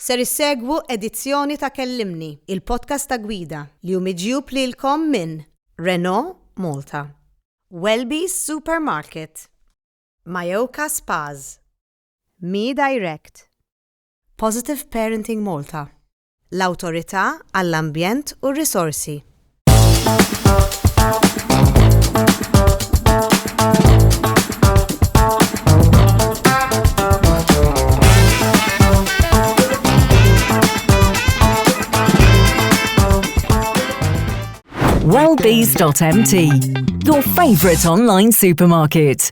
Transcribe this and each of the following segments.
Ser issegwu edizzjoni ta' Kellimni, il-podcast ta' gwida li hu miġjub lilkom minn Renault Malta, Welby's Supermarket, Mayoka Spas, Me Direct, Positive Parenting Malta, l-Awtorità għall-Ambjent u r-Risorsi. Wellbees.mt, your favorite online supermarket.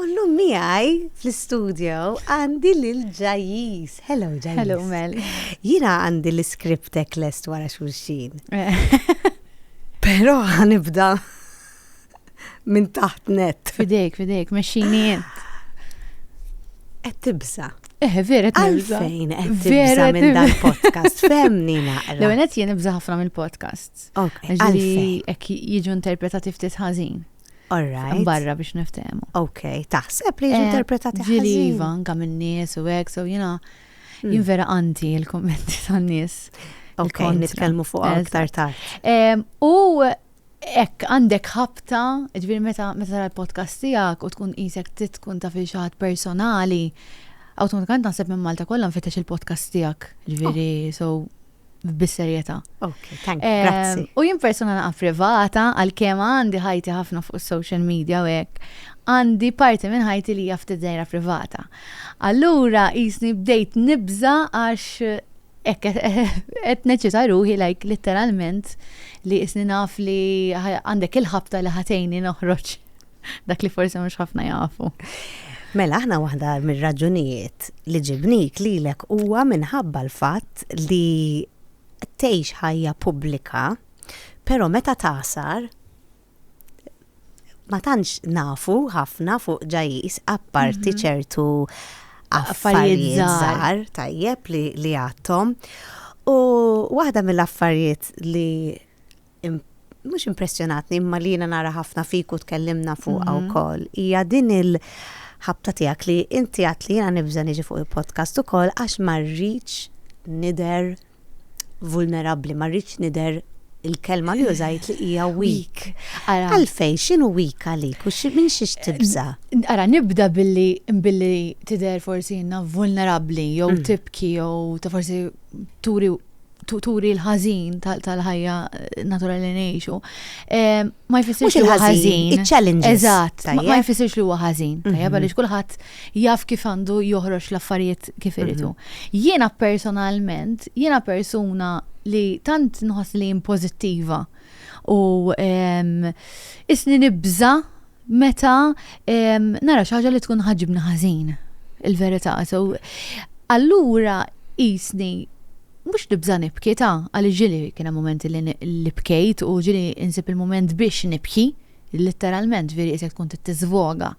U llum miegħi fl-istudjo għandi lil Ġajjiż. Hello Ġajjiż. Hello Mel. Jiena għandi l-iskriptek lest wara xulxin. Però ħanibda minn taħt net. Fidejk, fidejk, mexxini jent. Qed tibża. Eh, vera tibża. Għalfejn qed tibża minn dan podcast. Femni naqra. L-għenet jien ibża ħafna mill-podcasts. Għalfejn. Ek jiġu interpretati ftit ħażin. All right. Mbarra biex niftehmu. Ok, taħseb li jiġu eh, interpretati ħażin. Ġili iva, anka minn nies u hekk, so jiena hmm. jien vera anti l-kummenti tan-nies. Ok, nitkellmu fuq aktar tard. U Ek, għandek ħabta, ġviri meta meta l-podcast tijak u tkun isek titkun ta' fi xaħat personali, automatikant naħseb minn Malta kollha nfittex il-podcast tijak, ġviri, oh. so bis-serjetà. Okay, thank you. Grazzi. Ehm, u jien persuna naqa' privata għal kemm għandi ħajti ħafna fuq is-social media u hekk, għandi parti minn ħajti li hija ftit dejra privata. Allura jisni bdejt nibża għax hekk qed neċita ruħi like litteralment li jisni naf li għandek il-ħabta li ħatejni noħroġ Dak li forsi mhux ħafna jafu. Mela aħna waħda mir-raġunijiet li ġibnik lilek huwa minħabba l-fatt li tgħix ħajja pubblika, però meta tasar ma tantx nafu ħafna fuq ġajis apparti mhm. ċertu affarijiet żgħar tajjeb li għadhom. U waħda mill-affarijiet li mhux impressjonatni imma li jiena nara ħafna fik u tkellimna fuqha mhm. wkoll. Hija din il-ħabta tiegħek li inti għat li jiena nibża' niġi fuq il-podcast ukoll għax ma rridx nider vulnerabbli, ma rridx nider il-kelma li użajt li hija weak. Għalfej, xinu weak għalik u minn xiex tibza? Ara, nibda billi billi tider forsi inna vulnerabli, jew mm. tibki, jew ta' forsi turi turi l-ħażin tal-ħajja naturali li ngħixu. Ma jfissirx li huwa ħażin. Iċ-challenge. Eżatt. Ma jfissirx li huwa ħażin. Mhm. Tajjeb għaliex kulħadd jaf kif għandu joħroġ l-affarijiet kif iridu. Mhm. Jiena personalment, jiena persuna li tant nħoss li pożittiva u isni nibża' meta nara xi ħaġa li tkun ħaġibni ħażin il-verità. So, allura jisni mux nibza nibki ta' għalli ġili kiena momenti li nibkejt u ġili insib il-moment biex nibki literalment veri jisek tkun t-tizvoga.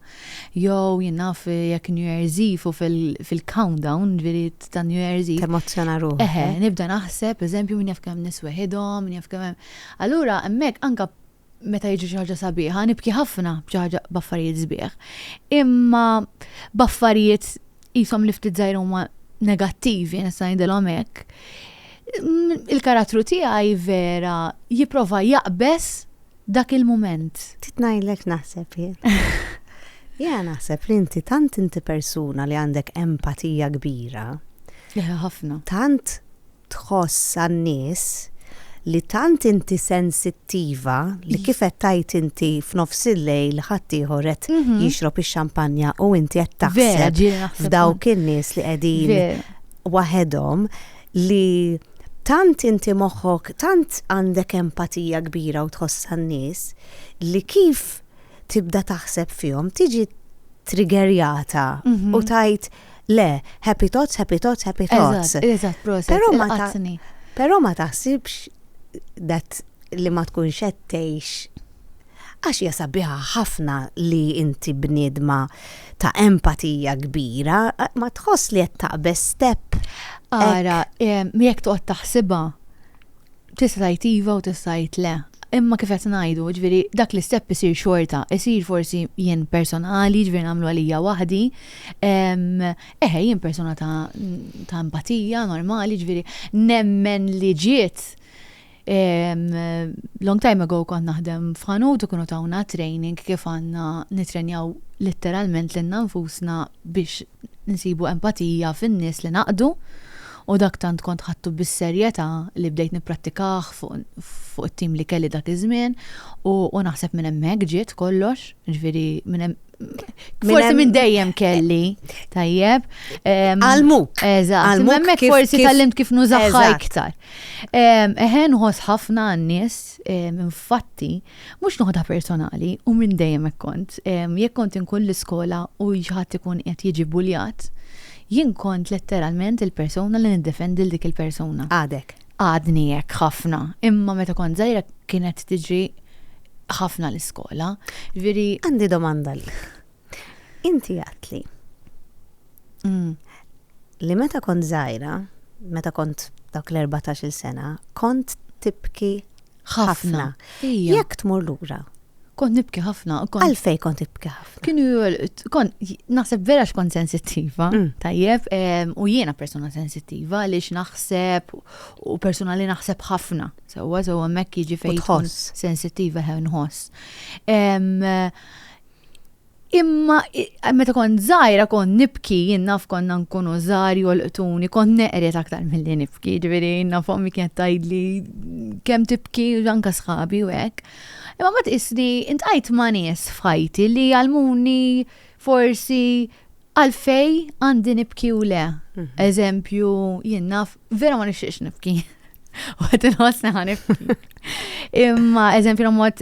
Jow jinnaf jek New Year's Eve u fil-countdown veri ta' New Year's Eve. Emozzjona ruħ. Eħe, eh? nibda naħseb, eżempju, minn jaf kem nisweħidom, minn jaf kem. Allura, emmek anka meta jiġri xi ħaġa sabiħa, nibki ħafna b'xi ħaġa b'affarijiet sbieħ. Imma b'affarijiet jisom li ftit żgħir huma negattivi, nista' ngħidilhom hekk. Il-karattru tiegħi vera jipprova jaqbes dak il-mument. Titnajlek naħseb jien. Ja naħseb li inti tant inti persuna li għandek empatija kbira. Leħa ħafna. Tant tħoss għan-nies li tant inti sensittiva li kif qed tgħid inti f'nofs il-lejl ħaddieħor qed jixrob ix-xampanja u inti qed taħseb f'dawk in-nies li qegħdin waħedhom li tant inti moħħok tant għandek empatija kbira u tħoss għan-nies li kif tibda taħseb fihom tiġi triggerjata u mhm. tajt Le, happy thoughts, happy thoughts, happy thoughts. Eżatt, eżatt, proset. Però ma taqsni. Però ma taħsibx dat li ma tkunx qed tgħix għax hija sabiħa ħafna li inti bniedma ta' empatija kbira, ma tħoss li qed taqbeż step. Ara, jekk toqgħod taħsibha, Tista' tgħid iva u tista' tgħid le. Imma kif qed ngħidu, jiġifieri dak l-istep isir xorta, isir forsi jien personali, jiġifieri nagħmlu għalija waħdi. Eħe, jien persuna ta' ta' empatija normali, jiġifieri nemmen li ġiet long time ago kont naħdem f'ħanut u kienu tawna training kif għandna nittrenjaw litteralment lilna nfusna biex nsibu empatija fin-nies li ngħaqdu u dak tant kont ħadtu bis-serjetà li bdejt nipprattikah fuq it-tim li kelli dak iż-żmien u naħseb minn hemmhekk ġiet kollox, jiġifieri minn hemm Forsi minn dejjem kelli, tajjeb. Għalmuk. Eżatt, minn hemmhekk forsi tallimt kif nużaħħa iktar. Eħen nħoss ħafna n-nies, infatti, Mhux noħodha personali, u minn dejjem hekk kont. Jekk kont inkun l-iskola u xi ħadd ikun qed jiġi bbuljat, jien kont letteralment il-persuna li niddefendi 'l dik il-persuna. Għadek? Għadni hekk ħafna, imma meta kont żgħira kienet tiġri ħafna l-iskola. Jiġifieri. Għandi domanda lil. Inti għedtli li meta kont żgħira, meta kont dawk l-erbatax-il sena, kont tibki Ħafna. Jekk tmur lura. Kont nibki ħafna. Għalfej kont nibki ħafna. Kienu kont naħseb vera x'kont sensittiva, mm. tajjeb, u jiena persuna sensittiva li x'naħseb u persuna li naħseb ħafna. Sewwa sewwa hemmhekk jiġi fejn sensittiva ħen nħoss. Imma meta kont żgħira kont nibki, jien naf konna nkunu żgħar jolqtuni, kont neqret aktar milli nibki, ġifieri naf ommi kienet tgħidli kemm tibki anka sħabi u hekk. Imma ma tqisni intqajt ma' nies f'ħajti li għalmuni forsi għalfej għandi nibki u le. Mhm. Eżempju, jien naf vera ma nixtieqx nibki. U qed inħossni ħanibki. Imma eżempju mod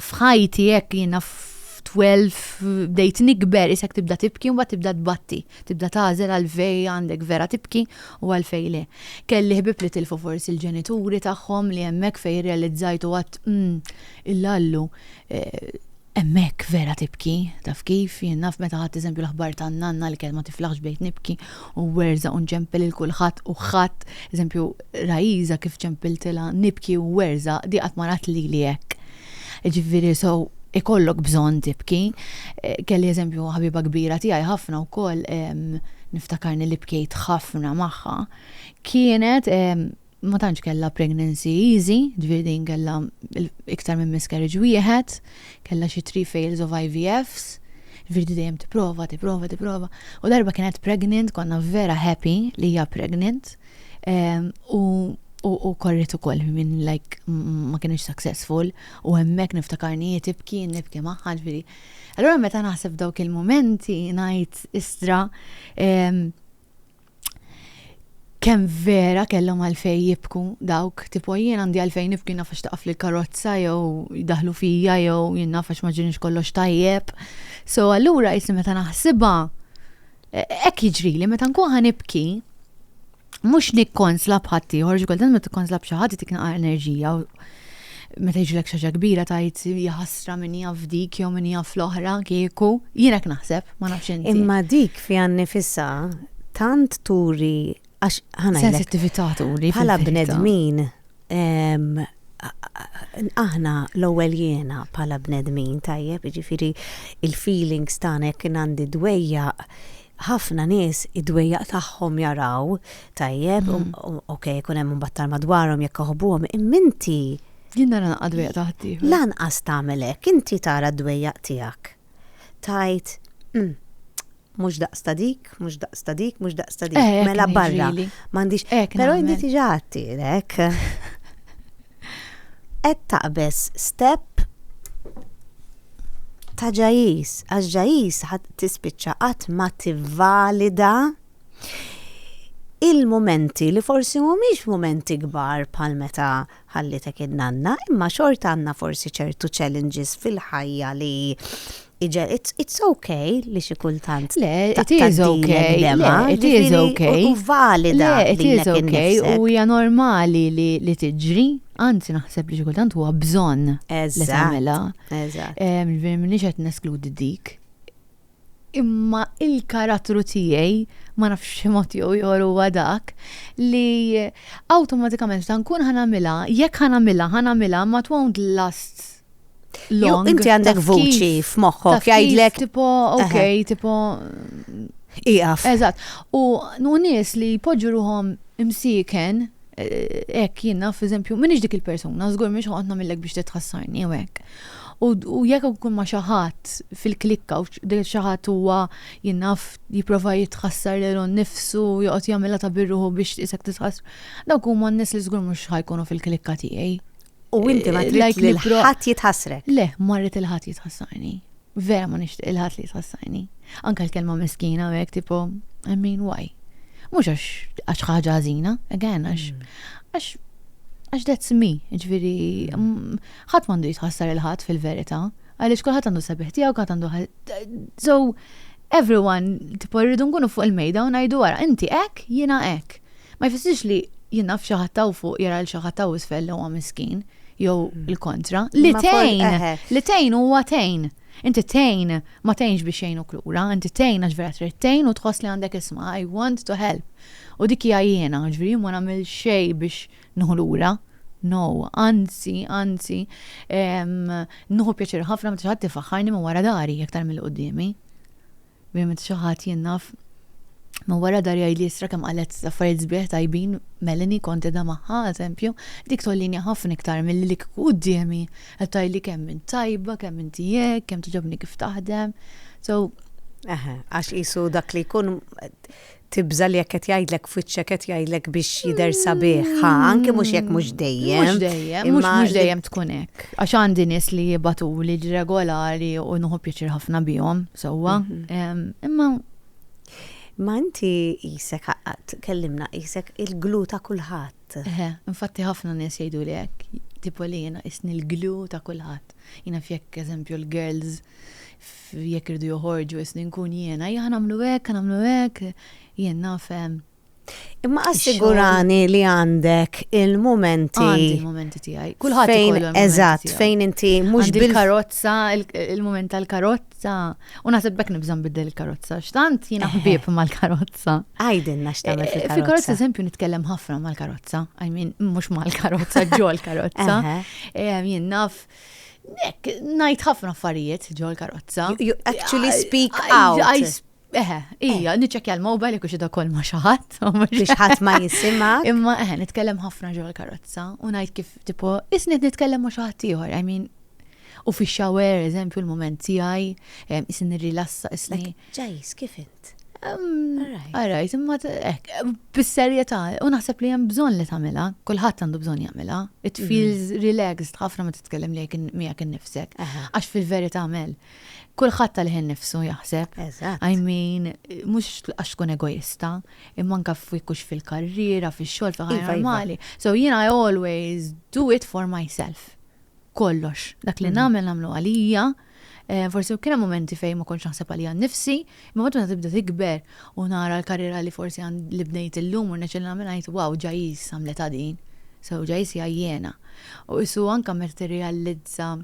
f'ħajti hekk jiena f'12 bdejt nikber isek tibda tibki u tibda tbatti, tibda tażel għalfej għandek vera tibki u għalfej le. Kelli ħbib li tilfu forsi l-ġenituri tagħhom li hemmhekk fejn rrealizzajt u għadt mm illallu eh, hemmhekk vera tibki, taf kif, jien naf meta ħadd eżempju l-aħbar tan-nanna li kienet ma tiflaħx bdejt nibki u werżaq u nġempel lil kulħadd u ħadd, eżempju, Raisa kif ġempiltilha nibki u werżaq, di qatt ma rat lili hekk. Jiġifieri so ikollok bżonn tibki. Kelli eżempju ħabiba kbira tiegħi ħafna wkoll, niftakarni li bkejt ħafna magħha, kienet ma tantx kellha pregnancy easy, ġifieri din kellha iktar minn miscarriage wieħed, kellha xi three fails of IVFs, ġifieri dejjem tipprova, tipprova, tipprova. U darba kienet pregnant, konna vera happy li hija pregnant. Ehm, u u korret ukoll minn like ma kienx successful u hemmhekk niftakarni tibki nibki magħha ġifieri. Allura meta naħseb dawk il-momenti ngħid istra ehm, Kemm vera kellhom għalfejn jibku dawk, tipo jien għandi għalfejn nibki naf għax taqafli l-karozza jew jdaħlu fija jew jien naf għax ma ġienix kollox tajjeb. So allura jisni meta naħsibha e, hekk jiġrili meta nkun ħa nibki mhux nikkonsla bħaddieħor, ġikoltant ma tikkonsla b'xi ħadd tik naqar enerġija meta jiġlek xaġa kbira tajt jaħasra min jaf dik jew min jaf l-oħra kieku, jiena naħseb, ma nafx inti. Imma dik fi għannifissa tant turi għax ħana. Sensittività turi. Bħala bnedmin aħna l-ewwel jiena bħala bnedmin tajjeb, jiġifieri il-feelings tagħna jekk għandi dwejja ħafna nies id-dwejjaq tagħhom jaraw tajjeb u ok ikun hemm imbagħad tal-madwarhom jekk iħobbuhom imma inti Jien nara naqqa' dwejjaq ta' ħaddieħor. lanqas tagħmel hekk, inti tara d-dwejjaq tiegħek. Tgħid, Hm, mhux daqs ta' dik, mhux daqs ta' dik, mhux daqs ta' dik, mela barra, m'għandix. Però inti diġà għadtilek. qed taqbeż step ta' ġajis, għax ġajis ħadd tispiċċa qatt ma tivvalida il-mumenti li forsi mhumiex mumenti kbar bħal meta ħallitek in-nanna, imma xorta għandna forsi ċertu challenges fil-ħajja li Iġel, it's, it's okay li xi kultant. Le, it is okay. Le, it is okay. U valida. Le, it is okay. U hija normali li, li tiġri. Anzi, naħseb li xi kultant huwa bżonn. Li tagħmilha. Eżatt. Minix qed neskludi dik. Imma il-karattru tiegħi ma nafx mod jew joru dak li awtomatikament ta' nkun ħanamilha, jekk ħanamilha, ħanamilha ma twont last long. Inti għandek vuċi f'moħħok jgħidlek. Tipo, ok, tipo. Iqaf. Eżatt. U nies li jpoġġu ruhom imsiken, eh, ek jien naf, eżempju, minix dik il-persuna, żgur mhix ħoqgħod nagħmilek biex titħassarni u hekk. U jekk ikun ma' xaħat fil-klikka u dik xaħat huwa jinnaf jipprova jitħassar lil nnifsu joqgħod jagħmilha ta' birruħu biex isek titħassar. Dawk huma n-nies li żgur mhux ħajkunu fil-klikka tiegħi. U inti ma trid li l-ħadd jitħassrek. Le, ma rrid il-ħadd jitħassarni. Vera ma nixtieq il-ħadd li jitħassarni. Anka l-kelma miskina u hekk tipo, I mean why? Mhux għax għax ħaġa ħażina, again għax għax għax that's me, ġifieri ħadd m'għandu jitħassar il-ħadd fil-verità, għaliex kulħadd għandu sabiħ tiegħu, kulħadd għandu So everyone tipo rridu nkunu fuq il-mejda u ngħidu wara, inti hekk, jiena hekk. Ma jfissirx li jien naf xi ħadd hawn fuq jara lil xi ħadd hawn isfel li huwa miskin jew il-kontra. Li Imma forsi- tgħin, eħe. li tgħin huwa tgħin. Inti tgħin, ma tgħinx biex jgħinuk lura, inti tgħin għax vera trid tgħin u tħoss li għandek isma' I want to help. U dik hija jiena, jiġifieri jien ma nagħmel xejn biex nieħu lura. No, anzi, anzi, ehm, nieħu pjaċir ħafna meta xi ħadd ifaħħarni minn wara dari aktar milli quddiemi. Ovvjament xi ħadd jien naf minn wara dar jgħidli istra kemm qalet affarijiet sbieħ tajbin Melanie kont qiegħda magħha eżempju, dik tgħollini ħafna iktar milli li kieku quddiemi qed tgħidli kemm int tajba, kemm inti hekk, kemm togħġobni kif taħdem. So, Eħe, għax qisu dak li jkun Tibża' li jekk qed jgħidlek f'wiċċek qed jgħidlek biex jidher sabiħ, ħa, anke mhux jekk mhux dejjem. Mhux dejjem, mhux mhux dejjem tkun hekk. Għax għandi nies li jibatuli regolari u nħu pjaċir ħafna bihom, sewwa. Mhm. Imma Ma inti jisek għaqqat, kellimna jisek il-glu ta' kulħadd. Eħe, infatti ħafna nies jgħidu li hekk, tipo li jiena isni l-glu ta' kulħadd. Jiena fjekk eżempju l-girls jekk iridu joħorġu isni nkun jiena, ejja nagħmlu hekk, nagħmlu hekk, jien naf Imma assigurani li għandek il-momenti. Għandi il-momenti tiegħi. Kulħadd fejn eżatt fejn inti mhux bil-karozza, il-moment tal-karozza. U naħseb bekk nibżam biddel il-karozza. X'tant jiena eh. ħbieb mal-karozza. Għajdilna x'tagħmel eh, fil-karozza. Fil-karozza eżempju nitkellem ħafna mal-karozza. I mean mhux mal-karozza ġol karozza. Eh, jien naf Nek, najt ħafna affarijiet ġol karozza. You actually speak out. Eħe, ija, eh. niċċekja l-mobile jekk xida kol ma xaħat. Biex ħadd ma jisima. Imma eħe, nitkellem ħafna ġol karozza u ngħid kif tipo isni nitkellem ma xaħat ieħor. I mean, u fi shower, eżempju, l-moment tiegħi, isni rilassa, isni. Ġajs, kif int? Għarajt, um, imma ek, bis-serjetà, u naħseb li hemm bżonn li tagħmilha, kulħadd għandu bżonn jagħmilha. It mhm. feels relaxed ħafna ma titkellem li miegħek innifsek. Għax fil-verità għamel. Kulħadd tal-ħin nifsu jaħseb. I mean, mhux għax tkun egoista, imma anke f'wikux fil-karriera, fix-xogħol, fil-ħajja iva, iva. normali. So jiena I always do it for myself. Kollox, dak li mhm. nagħmel nagħmlu għalija, Forsi kien hemm mumenti fejn ma kontx naħseb għalija nnifsi, imma meta waħda tibda tikber u nara l-karriera li forsi li bnejt illum u rnexxieli nagħmilha ngħid wow Jais għamlitha din. So Jais hija jiena. U qisu anke meta tirrealizza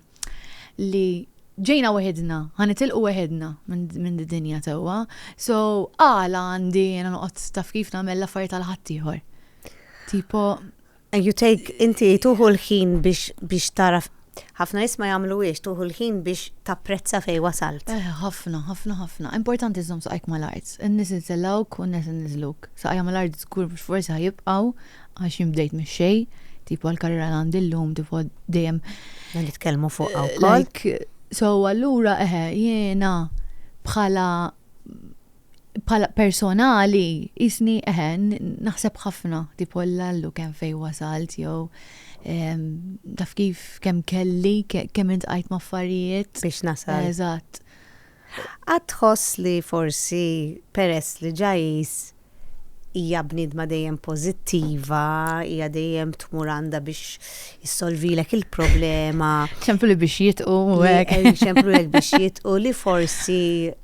li ġejna weħidna, ħa nitilqu weħidna minn d-dinja tewwa, so għala għandi jiena noqgħod taf kif nagħmel l-affarijiet għal ħaddieħor. Tipo And you take, inti tuħu l-ħin biex biex taraf ħafna nies ma jagħmluhiex tuħu l-ħin biex tapprezza fejn wasalt. Eh, ħafna, ħafna, ħafna. Importanti żżomm saqajk mal-art. In-nies insellawk u n-nies inniżluk. Saqajja mal-art żgur mhux forsi ħajibqgħu għax jien bdejt mix-xejn, tipo l-karriera li għandi llum, tipo dejjem. Ma nitkellmu fuq eh, Like, so allura eħe, jiena bħala bħala personali qisni eħe naħseb ħafna tipo l-lallu kemm fejn wasalt jew ehm, taf kif kemm kelli kemm intqajt ma' affarijiet. Biex nasal. Eżatt. Għad tħoss li forsi peress li ġajis hija bnidma dejjem pożittiva, hija dejjem tmur għandha biex issolvilek il-problema. ċemplu li biex jitqu u hekk. ċemplu li biex jitqu li forsi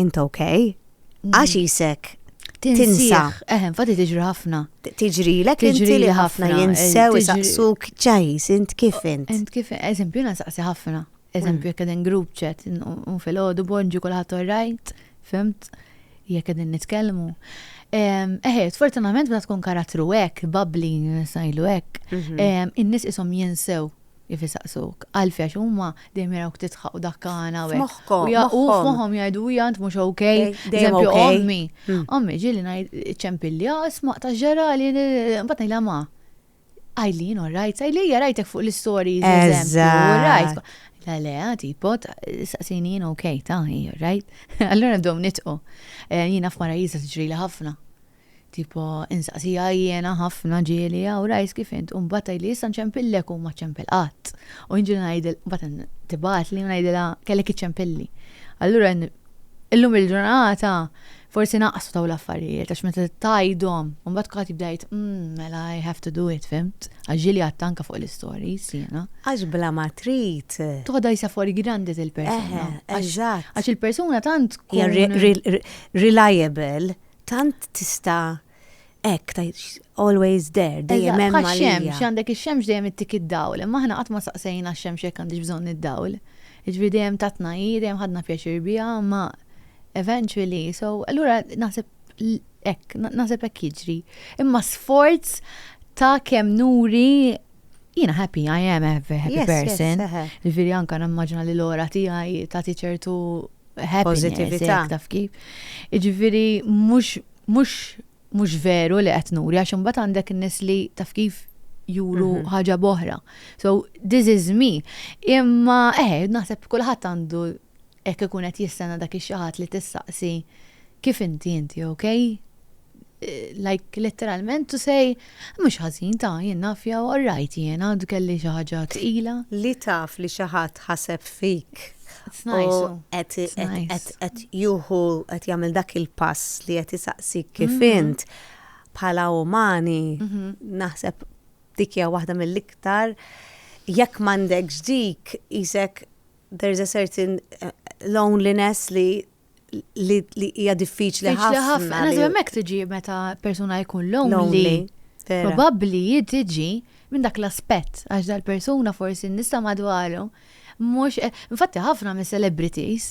int ok, mm. għax jisek tinsa. Eħem, fati tiġri ħafna. Tiġri l tiġri li ħafna jinsew saqsuk ċajs, int kif int. Int kif, eżempju, na saqsi ħafna. Eżempju, jek għedin group chat, un fil-ħodu bonġu kullħat orrajt, fimt, jek għedin nitkellmu. Eħe, fortunament bda tkun karattru ek, babli, sajlu ek, mhm. in-nis isom jinsew Kif isaqsuk? Għalfejn? Għax huma dejjem jarawk tidħaq u dakkana u hekk. F'moħħhom. U f'moħħhom jgħidu hija int mhux okej. Dejjem okej. Eżempju ommi. Ommi ġieli ngħid iċċempilli, ah isma' ta' ġrali, mbagħad ngħidilha ma, Eileen all right, Eileen rajtek fuq l-istories eżempju. Eżatt. Le le, tipo, saqsini jien okej, ta' hi all right. Allura nibdew nidħku. Jiena f'marajjiża tiġrili ħafna. Tipo, insaqsiha jiena ħafna ġieli, aw rajs kif int? U mbagħad tgħidli issa nċempillek u ma ċċempel qatt. U jien ġieli ngħidilha, mbagħad tibgħatli u ngħidilha kellek iċċempilli. Allura illum il-ġurnata forsi naqsu dawn l-affarijiet għax meta tgħidhom u mbagħad kulħadd jibda jgħid, umm, mela i have to do it, fimt? Għax ġieli għadtha anke fuq l-istories jiena. Għax bla ma trid. Toħodha jsa fuori grandi dil-persuna. Eżatt. Għax il-persuna tant tkun. Hija reliable. Tant tista' hekk tgħid always there, dejjem Eżatt, hemm bħax-xemx, għalija. x'għandek ix-xemx dejjem ittik id-dawl, imma aħna qatt ma staqsejna x-xemx jekk għandhiex bżonn id-dawl. Jiġifieri dejjem tatna hi, dejjem ħadna pjaċir biha, imma eventually, so allura naħseb hekk, naħseb hekk jiġri. Imma sforz ta' kemm nuri Jina happy, I am a happy person. Ġifiri anka nammaġna li l-ora tijaj ta' ċertu positivita. Taf kif. Ġifiri, mux, mux, mux veru li qed nuri, għax imbagħad għandek nis li taf kif juru mhm. ħaġa boħra. So, this is me. Imma, eh, naħseb kulħadd għandu hekk ikun qed jistenna dak ix-xi li tistaqsi kif inti inti, okay? like letteralment to say mhux ħażin ta' jien naf jew alright jien għandu kelli xi ħaġa tqila. Li taf li xi ħadd ħaseb fik. Qed juhu qed jagħmel dak il-pass li qed isaqsik kif mhm. int bħala umani mhm. naħseb dik hija waħda mill-iktar jekk m'għandekx dik isek there's a certain eh, loneliness li li hija diffiċli ħafna. Diffiċli ħafna. Nażu hemmhekk tiġi meta persuna jkun lonely. Probabbli tiġi minn dak l-aspett għax dal-persuna forsi nista' madwaru. Mhux, eh, infatti ħafna mis celebrities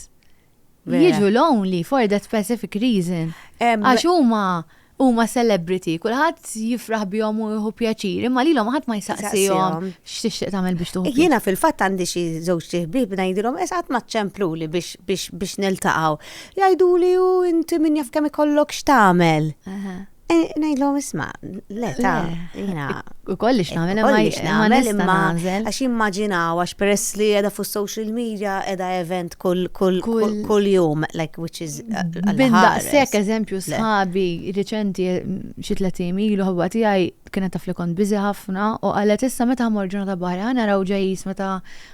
jiġu lonely for that specific reason. Għax huma Huma celebrity, kulħadd jifraħ bihom u jieħu pjaċir, imma lilhom ħadd ma jsaqsihom x'tixtieq tagħmel biex tuħu. Jiena fil-fatt għandi xi żewġ ħbieb ngħidilhom eż qatt ma ċċempluli biex biex biex niltaqgħu. Jgħiduli u inti min jaf kemm ikollok x'tagħmel. E, ngħidlhom isma' le ta' jiena. Ukoll ix nagħmel imma nagħmel imma għax immaġinaw għax peress li qiegħda fuq social media qiegħda event kull kull kull jum like which is Bindaqsek eżempju sħabi riċenti xi tletim ilu ħabba tiegħi kienet taf li kont biżi ħafna u qalet issa meta ħmor ġurnata barra ħana raw ġejjis meta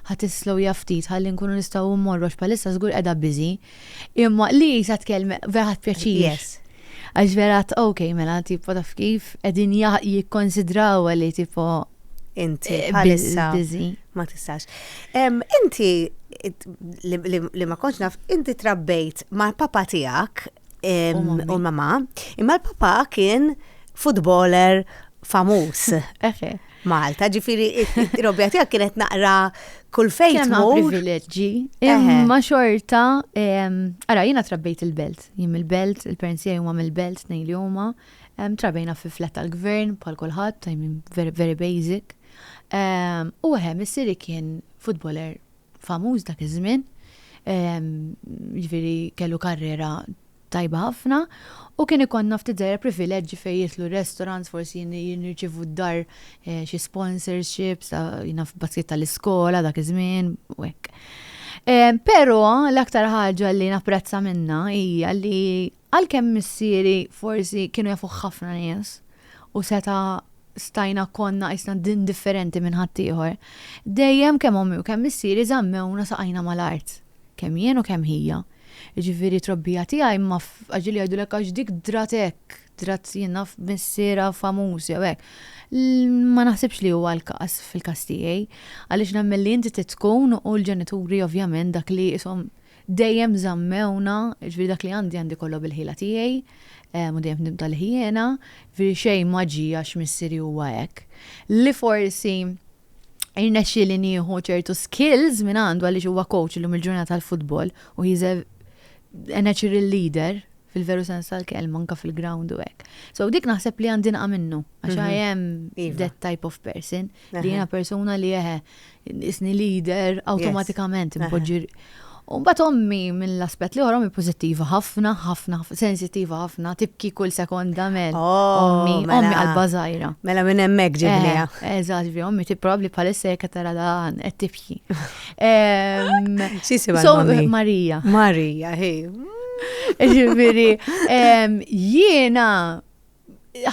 ħadd islow jaftit ħalli nkunu nistgħu mmorru x'palissa żgur qiegħda biżi. Imma li sa tkellem vera ħadd pjaċir. Għax vera ok mela tipo taf kif qegħdin jikkonsidraw li tipo Inti eh, bħalissa ma tistax. Inti li ma konċ naf, inti trabbejt ma' papa tijak u mama, imma l-papa kien futboler famus. Malta, ġifiri, robja tijak kienet naqra kull fejn. Kien privileġġi, imma xorta, ara, jina trabbejt il-belt, jim il-belt, il-parents jgħu mill-belt, nej li huma. belt Trabejna fi flat tal-gvern bħal kulħadd, I mean very very basic. U eħe, missieri kien futboler famuż dak iż-żmien, jiġifieri kellu karriera tajba ħafna u kien ikollna ftit żgħira privileġġi fejn jidħlu restaurants, forsi nirċievu d-dar xi sponsorships ta' naf baskit tal-iskola dak iż-żmien u hekk. Però l-aktar ħaġa li napprezza minnha hija li Għalkemm missieri forsi kienu jafuh ħafna nies u seta' stajna konna qisna indifferenti minn ħaddieħor, dejjem kemm ommi u kemm missieri żammewna saqajna mal-art, kemm jien u kemm hija. Jiġifieri t-trobbija tiegħi ma aġil jgħidulek għax dik drat hekk, drat jien naf missierha famuż jew hekk. Ma naħsibx li huwa l-każ fil-każ tiegħi għaliex nemmen li inti trid tkun u l-ġenituri ovvjament dak li qishom Dejjem żammewna, jiġifieri dak li għandi għandi kollu bil-ħila tiegħi, u dejjem f'dim tal-ħjiena, jiġifieri xejn ma ġie għax missieri huwa hekk. Li forsi irnexxieli nieħu ċertu skills minn għandu għaliex huwa coach illum il-ġurnata tal-futbol u he's a a natural leader fil-veru sens tal-kelma anke fil-ground u hekk. So dik naħseb li għandi nqa' minnu għax I am that type of person li jiena persuna li eħe Isni leader, awtomatikament impoġġi. U mbagħad ommi mill-aspett li oħra ommi pożittiva ħafna, ħafna, sensittiva ħafna, tibki kull sekonda mel. Oh, ommi, mela. ommi qalba żgħira. Mela minn hemmhekk ġibniha. Eh, eh, eżatt, vi ommi tipprovdi bħalissa jekk tara dan qed tibki. X'isibha so, Marija. Marija, ħej. Ġifieri, jiena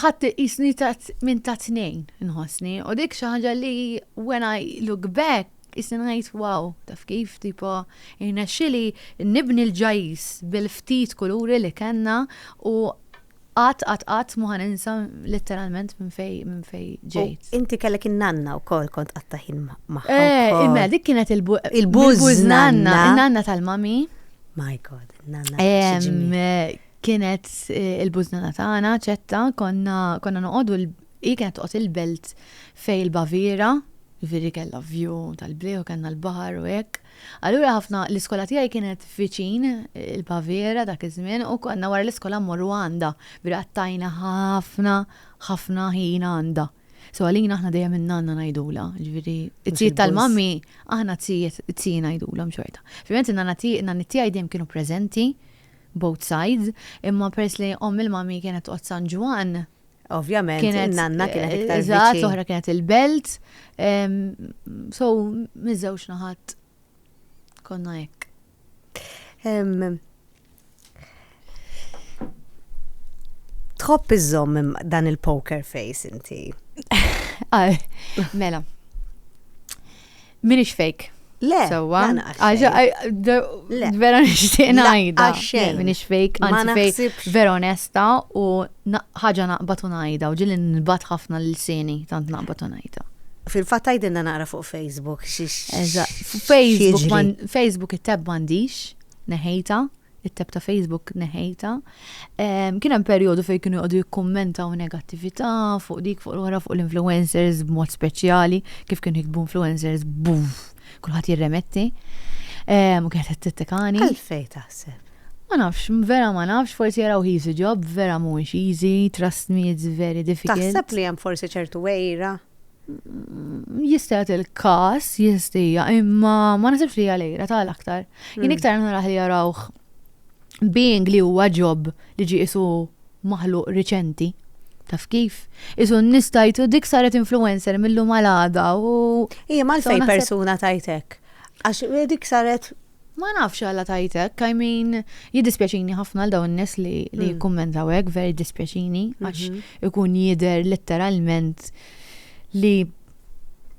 ħadd qisni ta' minn ta' tnejn inħossni u dik xi ħaġa li when I look back qisni ngħid wow, taf kif tipo irnexxili nibni l-ġajjiż bil-ftit kuluri li kellna u qatt qatt qatt mhu ħa ninsa litteralment minn fejn minn fejn ġejt. Inti kellek in-nanna wkoll kont qatta' ħin magħha. Eh, imma dik kienet il-buż nanna. Il-nanna tal-mami. My God, nanna. Kienet il-bużnana tagħna, ċetta, konna, konna noqogħdu l, hi kienet toqgħod il-belt fejn il-Baviera, jiġifieri kellha view tal-bliet u kellna l-baħar u hekk. Allura ħafna, l-iskola tiegħi kienet viċin il-Baviera dak iż-żmien u konna wara l-iskola mmorru għandha, jiġifieri qattajna ħafna, ħafna ħin għandha. So għalina aħna dejjem in-nanna ngħidulha, jiġifieri t-tzijiet tal-mummy aħna t-tzijiet, t-tziji ngħidulhom xorta. Filwent in-nanna tiegħi, in-nanniet tiegħi dejjem kienu preżenti, both sides, imma peress li omm il-mommy kienet toqgħod San Ġwann, Ovvjament, kienet in-nanna kienet iktar eżatt, viċin. l-oħra kienet il-Belt, ehm, so miż-żewġ naħat konna hekk. Ehm, Tħobb iżżomm im- dan il-poker face inti. Ah, Mela. Minix fejk. Le, sewwa. Vera nixtieq ngħidha. Minix fejk, anzi fejk vera onesta u ħaġa naqbad u ngħidha u ġieli nbat ħafna l-sini tant naqbad u ngħidha. Fil-fatt għajdilna naqra fuq Facebook. Facebook it-tab m'għandix, neħejta. it-tab ta' Facebook neħejta. Kien hemm perjodu fejn kienu jqogħdu jikkummentaw negattività fuq dik fuq l-oħra fuq l-influencers b'mod speċjali, kif kienu jiktbu influencers buf, kulħadd jirremetti. U kienet qed tittekani. Għalfej taħseb? Ma nafx, vera ma nafx, forsi jaraw he's a job, vera mhuwiex easy, trust me, it's very difficult. Taħseb li hemm forsi ċertu wejra jista' jagħti l-każ jiżdija, imma ma nasibx li għalejra tal-aktar. Jien hmm. iktar naraħ li jarawh being li huwa ġob li ġi isu maħluq riċenti. Taf kif? Isu nistajtu dik saret influencer millu malada u. Ija mal-fej persuna tajtek. Għax dik saret Ma nafx għala tajt hekk, I mean, jiddispjaċini ħafna għal dawn in-nies li li jikkummentaw hekk, vera jiddispjaċini għax ikun jidher letteralment li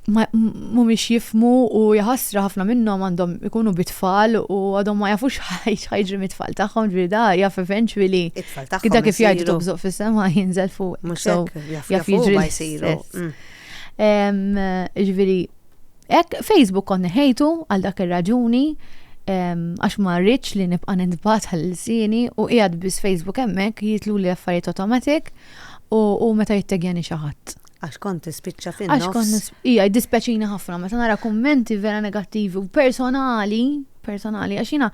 ma- m- mhumiex jifhmu u jaħasra ħafna minnhom għandhom ikunu bit-tfal u għadhom ma jafux ħaj- x'ħajġri mit-tfal tagħhom, ġifieri da jaf eventually It-tfal tagħhom. kida kif jgħidu isiru. tobżoq fis-sema jinżel fuq. Mhux So, hekk, jaf jaf jaf jiġri huma l-istess. jsiru. Mm. Em, Ġifieri, Hekk Facebook kont neħejtu għal dak ir-raġuni għax ma rridx li nibqa' nintbagħat għal lsieni u qiegħed biss Facebook hemmhekk jitluli affarijiet automatic u meta jittegjani xi ħadd. Għax kont tispiċċa fin-nofs. Għax kont ija jdispjaċini ħafna meta nara kummenti vera negattivi u personali, personali għax jiena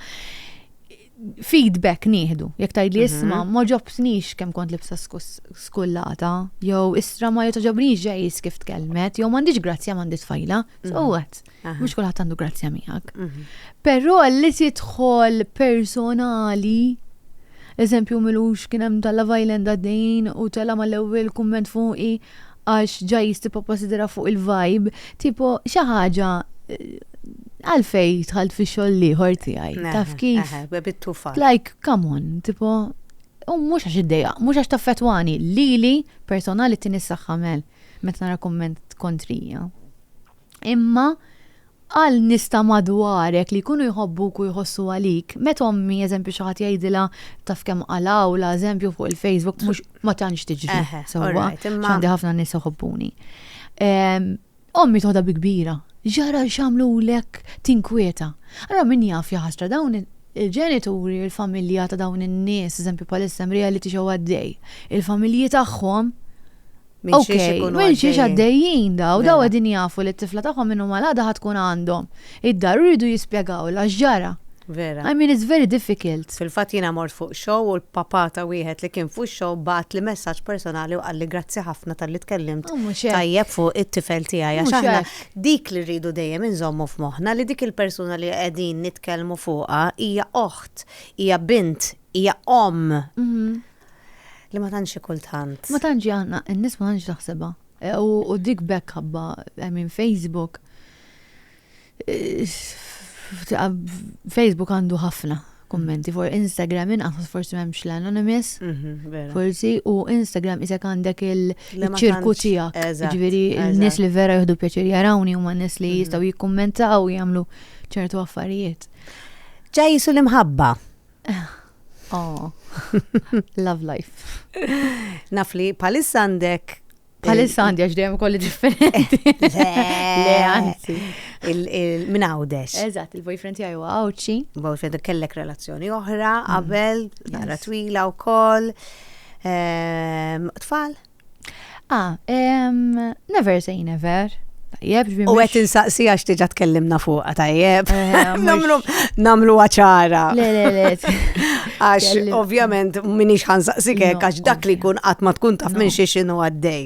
feedback nieħdu. Jekk tgħidli mhm. isma' ma ġobtnix kemm kont libsa skullata, jew istra ma jotoġobnix ġejs kif tkellmet, jew m'għandix grazzja m'għandix tfajla. So mhm. what? Mhux kulħadd għandu grazzja miegħek. Mhm. Però li tidħol personali eżempju milux kien hemm tal-Love Island għaddejn u tela mal-ewwel kumment fuqi għax ġajjiż tipo possidera fuq il-vibe, tipo xi ħaġa għalfej dħalt fi xogħol ieħor tiegħi. Taf kif? Like, come on, tipo, u mhux għax id-dejja, mhux għax taffetwani, lili personali t-tini s-saxħa mel, meta nara komment kontrija. Imma, Għal nies ta' madwarek li jkunu jħobbuk u jħossu għalik, meta ommi, eżempju, xi ħadd jgħidilha taf kemm qalgħulha, eżempju, fuq il-Facebook, mhux, ma tantx tiġri sewwa, għax għandi ħafna nies iħobbuni. Ommi toħodha bi kbira, ġara x'għamlulek, tinkwieta. Allura min jaf jaħasra dawn il-ġenituri, il-familja ta' dawn in-nies, eżempju, bħalissa hemm reality show għaddej, il-familji tagħhom, Minn xiex Okej, ikunu minn xiex għaddejjin. għaddejjin daw, daw Mela. qegħdin jafu li t-tifla tagħhom minn huma l-għada ħa tkun għandhom id-dar u jridu jispjegawlha x'ġara. Vera. I mean it's very difficult. Fil-fatt jiena mort fuq show u l-papà ta' wieħed li kien fuq ix-show bagħatli messaġġ personali u qalli grazzi ħafna talli tkellimt U mhux hekk. tajjeb fuq it-tifel tiegħi għax Mhux aħna hekk. dik li rridu dejjem inżommu f'moħħna li dik il-persuna li qegħdin nitkellmu fuqha hija oħt, hija bint, hija omm. Li ma tantx hi kultant. Ma tantx hi għandna, in-nies ma tantx taħsibha. U dik b'hekk ħabba, I mean Facebook, Facebook għandu ħafna kummenti, for Instagram inqas forsi m'hemmx l-anonymous, forsi, u Instagram isek għandek il-ċirku tiegħek. Ġifieri n-nies li vera jieħdu pjaċir jarawni huma n-nies li jistgħu jikkummentaw jagħmlu ċertu affarijiet. Ġa jisu l-imħabba. Oh, love life. Naf li palissa għandek. Palissa għandi għax dejjem kolli differenti. Le, anzi. Min għawdex. Eżatt, il-boyfriend tiegħi huwa għawċi. Boyfriend kellek relazzjoni oħra, mm. qabel, nara twila wkoll. Ehm, tfal? Ah, em, never say never. Tajjeb, ġbir. U għet insaqsi għax tiġa tkellimna fuqa tajjeb. Eh, namlu, namlu għacħara. Le, le, le. Għax, ovvjament, minix ħansaqsi kek, għax dak li kun għat ma tkun taf minn xie xinu għaddej.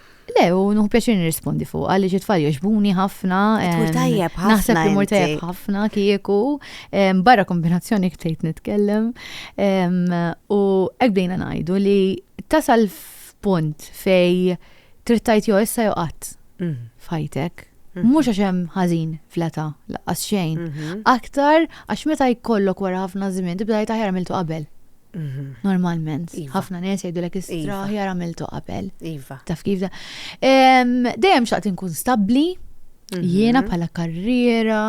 Le, u nuħu pjaċir nirrispondi fuq, għalli xi tfal joġbuni ħafna. Tmur tajjeb ħafna. Naħseb li mur tajjeb ħafna kieku, barra kombinazzjoni ktejt nitkellem. U hekk bdejna ngħidu li tasal f'punt fej trid tajt jo issa jo qatt mm. fajtek. Mm-hmm. Mhux għax hemm ħażin fleta laqqas xejn. Mm-hmm. Aktar għax meta jkollok wara ħafna żmien tibda jtaħjar miltu qabel. Mhm. Normalment, iva. ħafna nies jgħidulek istraħ iva. jar għamiltu qabel. Iva. Taf kif da. Dejjem xaqt inkun stabbli, mhm. jiena bħala karriera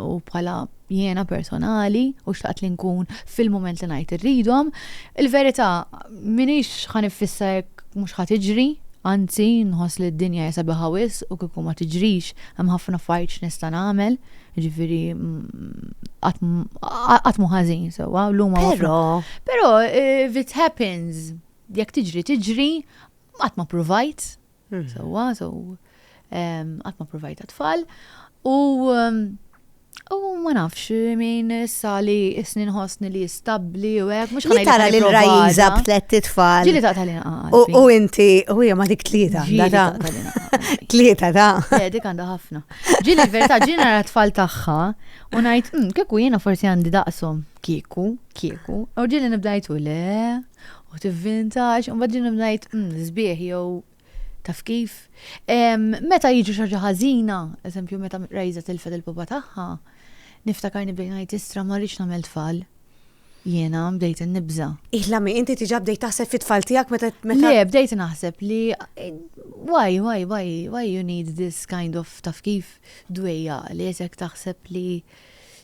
u bħala jiena personali u xtaqt li nkun fil-moment li ngħid irridhom. Il-verità minix ħan ifissa jekk mhux ħadd iġri, anzi nħoss li d-dinja jesa biħawis u kieku ma tiġrix hemm ħafna fajċ nista' nagħmel. Ġifiri, għatmu ħazin, sewa, l-luma. Pero. Pero, eh, if it happens, jek tiġri, tiġri, għatma provajt, hmm. sewa, so, għatma provajt għatfall, u U ma nafx min issa li isni nħosni li stabli u għek, mux ħana tara li l-rajiza b'tlet tfal. Ġili ta' tal U inti, u hija ma dik tlieta. Tlieta ta'. Eh, dik għanda ħafna. Ġieli l-verità, ġieli nara tfal tagħha u ngħid, "Mm, kieku jiena forsi għandi daqshom, kieku, kieku. U ġieli nibda ngħid, "U le, u tivvintax, u mbagħad ġieli nibda ngħid, "Mm, sbieħ jew taf kif. Em, Meta jiġri xi ħaġa ħażina, eżempju meta Raiza tilfet il-pupa tagħha, niftakar nibda ngħid, "Istra, ma rridx nagħmel tfal. Jiena bdejt innibża. Ihlami, inti tiġa bdejt taħseb fit-tfal tiegħek meta meta. Le, bdejt naħseb li why, why, why, why you need this kind of taf kif dwejja li jesek taħseb li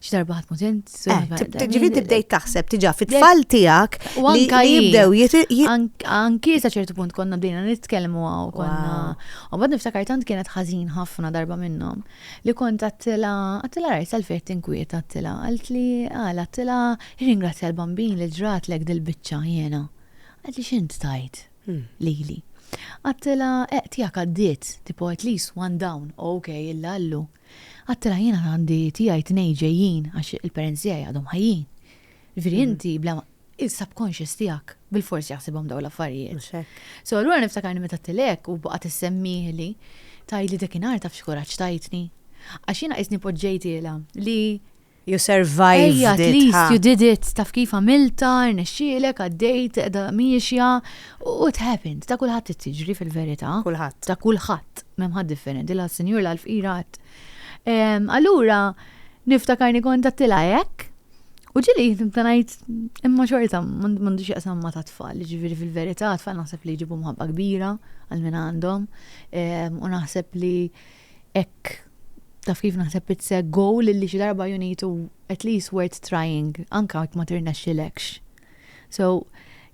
x'darba ħadd mutent. Eh, Ġifieri tibdejt taħseb tiġa fit-tfal tiegħek li jibdew Anki sa ċertu punt konna bdejna nitkellmu għaw konna. U bad niftakar tant kienet ħażin ħafna darba minnhom. Li kont għattilha, għattilha rajt għalfejn qed tinkwieta għattilha, qaltli għala għattilha irringrazzja l-Bambin li ġratlek dil-biċċa jiena. Qaltli x'int tajt lili. Għattilha eq tiegħek għaddiet, tipo at least one down, ok illa llu. Għattilha jiena għandi tiegħi tnejn ġejjin għax il-parents tiegħi għadhom ħajjin. Ġifieri inti bla ma il-subconscious tiegħek bil-fors jaħsibhom dawn l-affarijiet. Mhux hekk. So allura niftakarni meta tilek u baqgħet issemmihli tgħidli dekinhar taf x'kuraġġ tajtni. Għax jiena qisni poġġejtilha li You survived Ejja, at least you did it, taf kif għamilta, rnexxielek, għaddejt, edha miexja, u it happened, ta' kulħadd tiġri fil-verità. Kulħadd. Ta' kulħadd, memħad differenti, la sinjur la l-fqirat. Allura, niftakarni kont għattila hekk, U ġili, nibda ngħid imma xorta m'għandu x'jaqsam ma' tat-tfal, ġifieri fil-verità tfal naħseb li jġibu mħabba kbira għal min għandhom ehm, u naħseb li hekk taf kif naħseb it's a goal li xi darba you need to at least worth trying anka jekk ma tirnexxilekx. So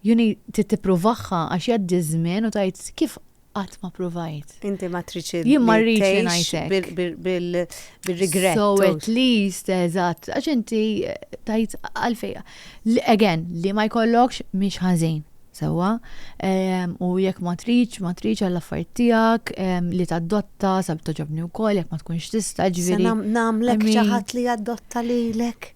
you need tippruvaħħa għax jgħaddi żmien u tajt kif Qatt ma provajt. Inti ma tridx li Jien ma rridx li ngħix tgħix hekk. bil- bil- bil- bil-regret. So u- at least, eżatt, għax inti tajt għalfej. Li- Again, li ma jkollokx mhix ħażin, sewwa? Ehm, U jekk ma tridx, ma tridx għall-affarijiet tiegħek, ehm, li tadotta, sab togħġobni wkoll, jekk ma tkunx tista', Se ġifieri. nam- Nagħmlek I xi mean- ħadd li jadotta lilek.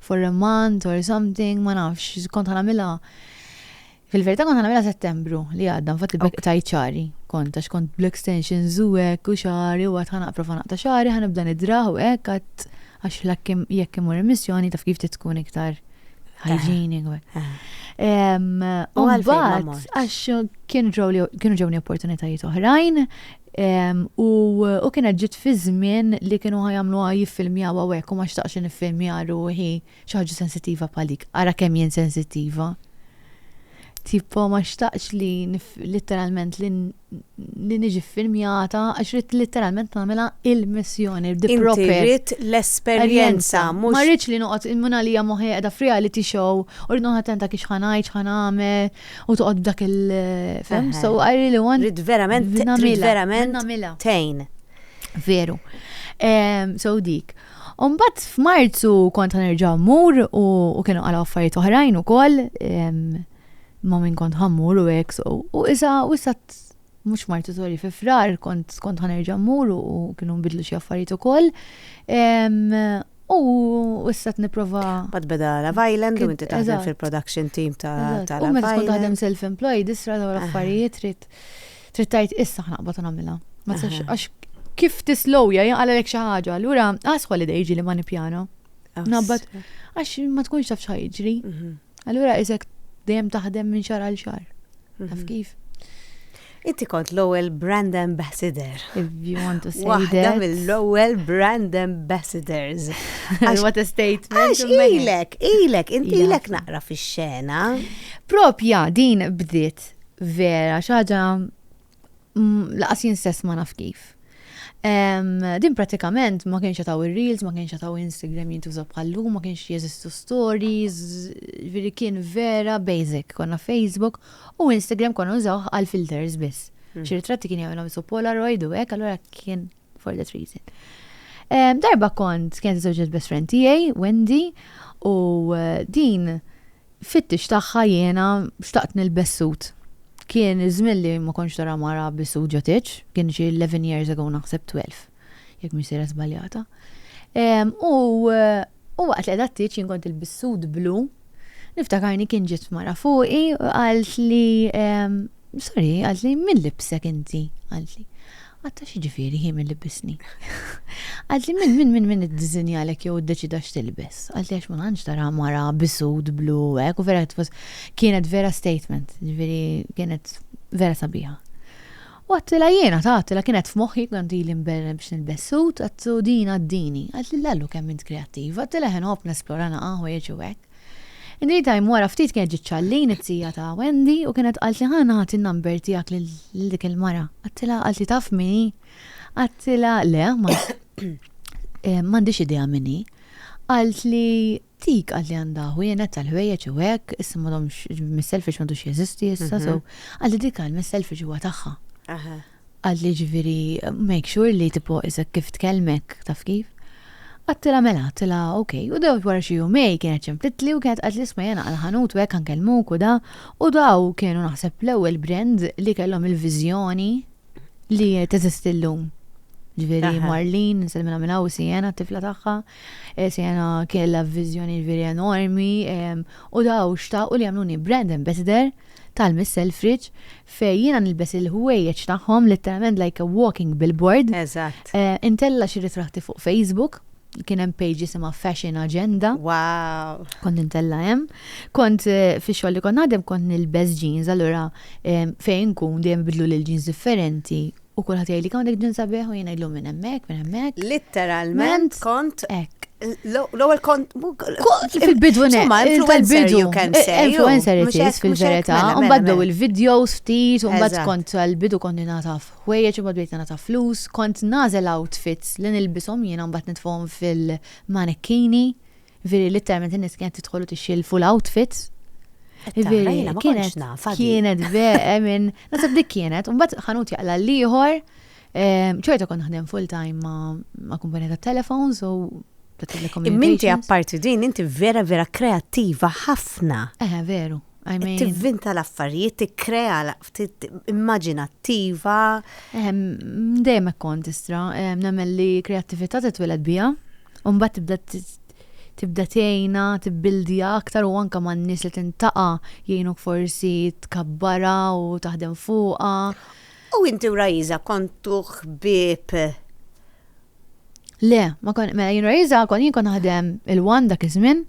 for a month or something, ma nafx, kont ħanamilha. Fil-verità kont ħanamilha settembru li għadda, mfatt il-bek ta' ċari. Kont għax kont bl-extension zuwek u xari u għat ħanaqra fanaq ta' xari, ħanibda nidraħ u hekk għat għax l-akkim jekk imur emissjoni taf kif titkun iktar hygienic. U għal-bat, għax kienu ġewni opportunitajiet oħrajn, U kienet ġiet fi żmien li kienu ħa jagħmluha jiffilmjaw hawnhekk u ma xtaqtx niffilmja ruħi xi ħaġa sensittiva bħal dik. Ara kemm jien sensittiva! Tipo ma xtaqtx li litteralment li niġi ffilmjata għax rid litteralment nagħmilha il-missjoni, the proper. Inti rid l-esperjenza mhux. Ma rridx li noqgħod minn għalija moħħi qiegħda f'reality show u rrid noqgħod attenta kif x'ħa ngħid, x'ħa nagħmel, U toqgħod b'dak il fem, so I really want. Rid verament, rid verament. Namila. Tejn. Veru. So dik. Umbat f'Marzu kont ħanerġa' mmur u kienu għal affarijiet oħrajn ukoll ma minn kont ħammur u hekk so. U issa u issa mhux martu sorry fi frar kont kont ħanerġa' mmur u kienu nbidlu xi affarijiet ukoll. U issa t-niprofa. Bad beda la Island u inti taħdem fil-production team ta' la U meta tkun taħdem self-employed, isra daw l-affarijiet trid trid tajt issa ħnaqbad nagħmilha. Ma tistax għax kif tislowja jinqalelek xi ħaġa, allura għas holiday ġili ma nippjana. Nabbat għax ma tkunx taf x'ħajġri. Mhm. Allura isek dejjem taħdem minn xar għal xar. Mhm. Taf kif? Inti kont l-ewwel brand ambassador. If you want to say Waħda that. mill-ewwel brand ambassadors. Għax what a statement. Għax ilek, ilek, inti ilek naqra fix-xena. Propja din bdiet vera xaġa laqas jien stess ma naf kif. Din pratikament ma kienx taw ir-reels, ma kienx taw Instagram jintuża bħallu, ma kienx jeżistu stories, veri kien vera basic. Konna Facebook u Instagram konna użaw għal filters biss. Hmm. Xi ritratti kien jagħmilhom isu Polaroid u hekk, allura kien for that reason. Darba kont kienet iżewġet best friend tiegħi, Wendy, u eh, din Fittix tagħha jiena xtaqt nilbes sut. Kien iż-żmien li ma kontx tara mara bi sut ġo tieġ, kien xi eleven years ago naħseb twelve, jekk mhix sejra żbaljata. U u waqt li qiegħda t-tieġ jien kont ilbist sut blu, niftakarni kien ġiet mara fuqi u qaltli Sorry, qaltli, min libbsek inti? Qaltli, Atta x'jiġifieri hi min libbisni? Qaltli, min, min, min, min iddiżinjalek jew iddeċida x'tilbes? Qaltli, għax ma tantx tara mara bi sut blu u hekk, u vera qed tfas-. Kienet vera statement, jiġifieri kienet vera sabiħa. U għedtilha jiena, ta, għedtilha kienet f'moħħi, kont ili nberren biex nilbes sut, għedt u din għaddini. Qaltli, Lallu kemm int kreattiva, għedtilha inħobb nesplora naqa' ħwejjeġ u hekk. In the time wara ftit kienet ġiet Charlene it-tija ta' Wendy u kienet qaltli ħa nagħti n-number tiegħek lil dik il-mara. Għadtilha qaltli taf min hi? Għadtilha le eh, m'għandix idea min hi. Qaltli dik qaltli għandha ħwienet tal-ħwejjeġ u hekk, issa m'għadhomx mis-selfish m'għadux jeżisti issa, so mhm. qaltli dik għal mis-selfish huwa tagħha. Qalt li jiġifieri make sure li tipo isek kif tkellmek, taf kif. Għadtilha mela, għadtilha ok. U dewwt wara xi jumej kienet ċemplitli u kienet qaltli isma' jien għal ħanut u hekk ħankellmuk u da u daw kienu naħseb l-ewwel brand li kellhom il-viżjoni li teżisti llum. Ġifieri Marlene, nsellimilha minn hawn u Sienna t-tifla tagħha. Sienna kellha viżjoni ġifieri enormi u daw xtaqu li jagħmluni brand ambassador tal-Miss Selfridge Fej jiena nilbes il-ħwejjeġ tagħhom litteralment like a walking billboard. Eżatt. Intella' xi ritratti fuq Facebook. Kien hemm page jisimha Fashion Agenda. Wow! Kont intella' hemm. Kont fix-xogħol li kont naħdem kont nilbes jeans allura fejn inkun dejjem ibidluli l-jeans differenti. U kulħadd jgħidlik hawnhekk ġen sabiħ u jien ngħidlu minn hemmhekk, minn hemmhekk. Litteralment kont l-ewwel kont fil-bidu tal-bidu influencer itis fil-verità, u mbagħad blew il-videos ftit, u mbagħad kont tal-bidu kont nagħtaf ħwejjeġ u mbagħad bdejt nagħtaf flus, kont nagħżel outfits li nilbishom jiena mbagħad nitfgħuhom fil-manekkini. Veri literalment in-nies kienet tidħol u tixxilfu l-outfits. Tara, jiena ma kontx naf, għadi. Kienet veqe minn. Nasib dik kienet, u mbagħad ħanut jaqla l-ieħor. ehm, Ċorta kont naħdem full time ma' ma' kumpanija tat telefons u ta' Imminti telecommunications. apparti din, inti vera vera kreattiva ħafna. Eh, veru. I mean, Tivvinta l-affarijiet, tikkrea l- tit- immaġinattiva. Ehm, dejjem hekk kont istra, ehm, nemmen li kreattività titwiled biha, u mbagħad tibda t- tibda tgħinha, tibbildija aktar u anke man-nies li tintaqa' jgħinuk forsi tkabbara u taħdem fuqha. U inti u Rajiza kontu ħbieb Le, ma kon, mela jien rajiza, kon jien kon naħdem il-wan dak iż-żmien,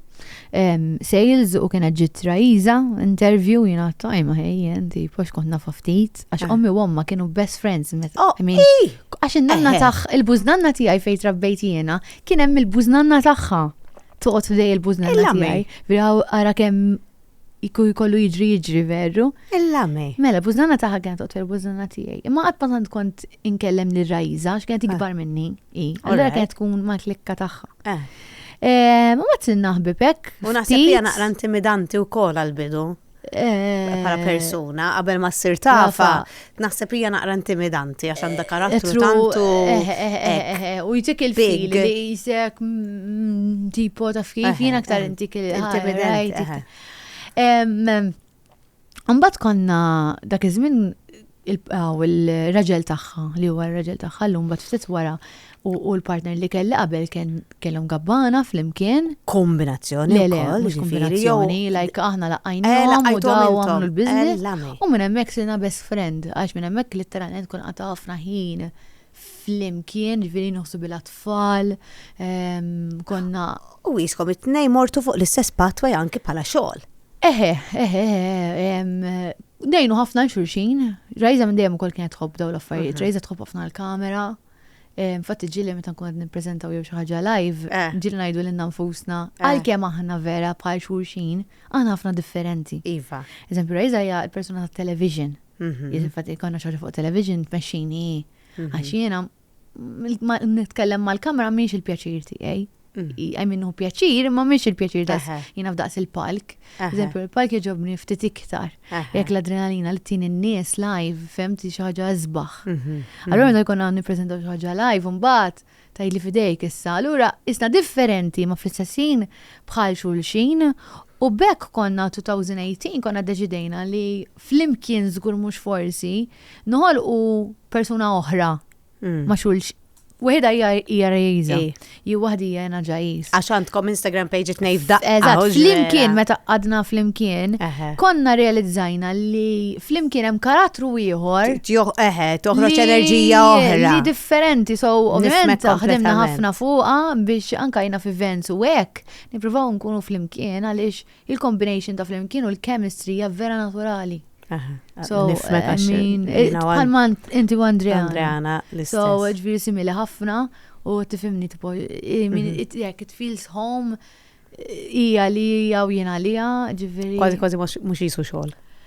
sales u kienet ġit rajiza, interview jien għattu għajma ħej, jien tipo xkont nafa ftit, għax ah. ommi u omma kienu best friends. Oh, għax il-nanna taħ, il-buznanna tijaj fejt rabbejt jiena, kien hemm il-buznanna taħħa. Toqgħod f'dej il-buznanna tijaj. Viraw għara kemm Iku jkollu jiġri jiġri veru. Il-lame. Mela, bużana taħħa kienet otwer bużana tiegħi. Imma qatt ma tant kont inkellem li rajza għax kienet ikbar minni. Allora kienet tkun ma klikka taħħa. Eh. Eh, ma għat naħbib hekk. U naħseb li naqra intimidanti wkoll għal-bidu. Eh. Bħala persuna, qabel ma ssir tafa. Naħseb hija naqra intimidanti għax għandha karattru tantu. U jtik il-fil li jisek mm, tipo ta' fil jien aktar intik il-intimidanti. Mbagħad konna dak iż-żmien il-raġel tagħha li huwa r-raġel tagħha llum mbagħad ftit wara U l-partner li kelli qabel kellhom gabbana flimkien. Kombinazzjoni. Le, le, mhux kombinazzjoni, like aħna laqajnihom u daw għamlu l-biznis. U minn hemmhekk sirna best friend, għax minn hemmhekk litteralment kun qata' ħafna ħin flimkien, ġviri nħossu bil tfal konna. U jiskom it-tnej mortu fuq l-istess patwa janki pala xogħol. Eħe, eħe, eħe, nejnu ħafna xurxin, rajza minn dejjem ukoll kienet tħobb daw l-affarijiet, mhm. rajza tħobb ħafna l-kamera, Eh, infatti ġili meta nkun qed nippreżentaw jew xi ħaġa live, eh. ġili ngħidu lilna nfusna, eh. għalkemm aħna vera bħal xulxin, aħna ħafna differenti. Iva. Eżempju, Rajza hija l-persuna ta' television. Mhm. Infatti konna xi fuq television tmexxini mhm. għax jiena nitkellem mal-kamera mhix il-pjaċir tiegħi. għaj minnu pjaċir, ma miex il-pjaċir da jina f'daqs il-palk. Eżempju, il-palk jġobni ftit iktar. Jek l-adrenalina li tin in-nies live, femti xaġa zbaħ. Mhm, mhm. Allora da jkun għan niprezentaw xaġa live, un-bat, taj li fidejk issa. Allura, isna differenti ma fl-istessin bħal xulxin U bekk konna 2018 konna deċidejna li fl-imkien zgur mux forsi noħol u persuna oħra Mm. ma xulx. Wieħed hija hija rejża. Ej. Ju waħdi hija jena ġajis. Għax għandkom Instagram page it nejf daqqa. Eżatt, u flimkien ġrela. meta qadna flimkien, Eħe. konna realizzajna li flimkien hemm karattru ieħor Tjoħ, eħe, toħroġ li- enerġija oħra. Li differenti, so ovvjament Nifhmek ħdimna kompletament. ħafna fuqa biex anka jina fi events u hekk nippruvaw nkunu flimkien għaliex il-combination ta' flimkien u l-chemistry hija vera naturali. So, I mean, bħalma inti u Andrea. Andreana, l-istess. So, ġviri simili ħafna u tifimni tipo, mhm. jek, it feels home, ija li ija u jena li ija, ġviri. Kważi kważi mux jisu xol.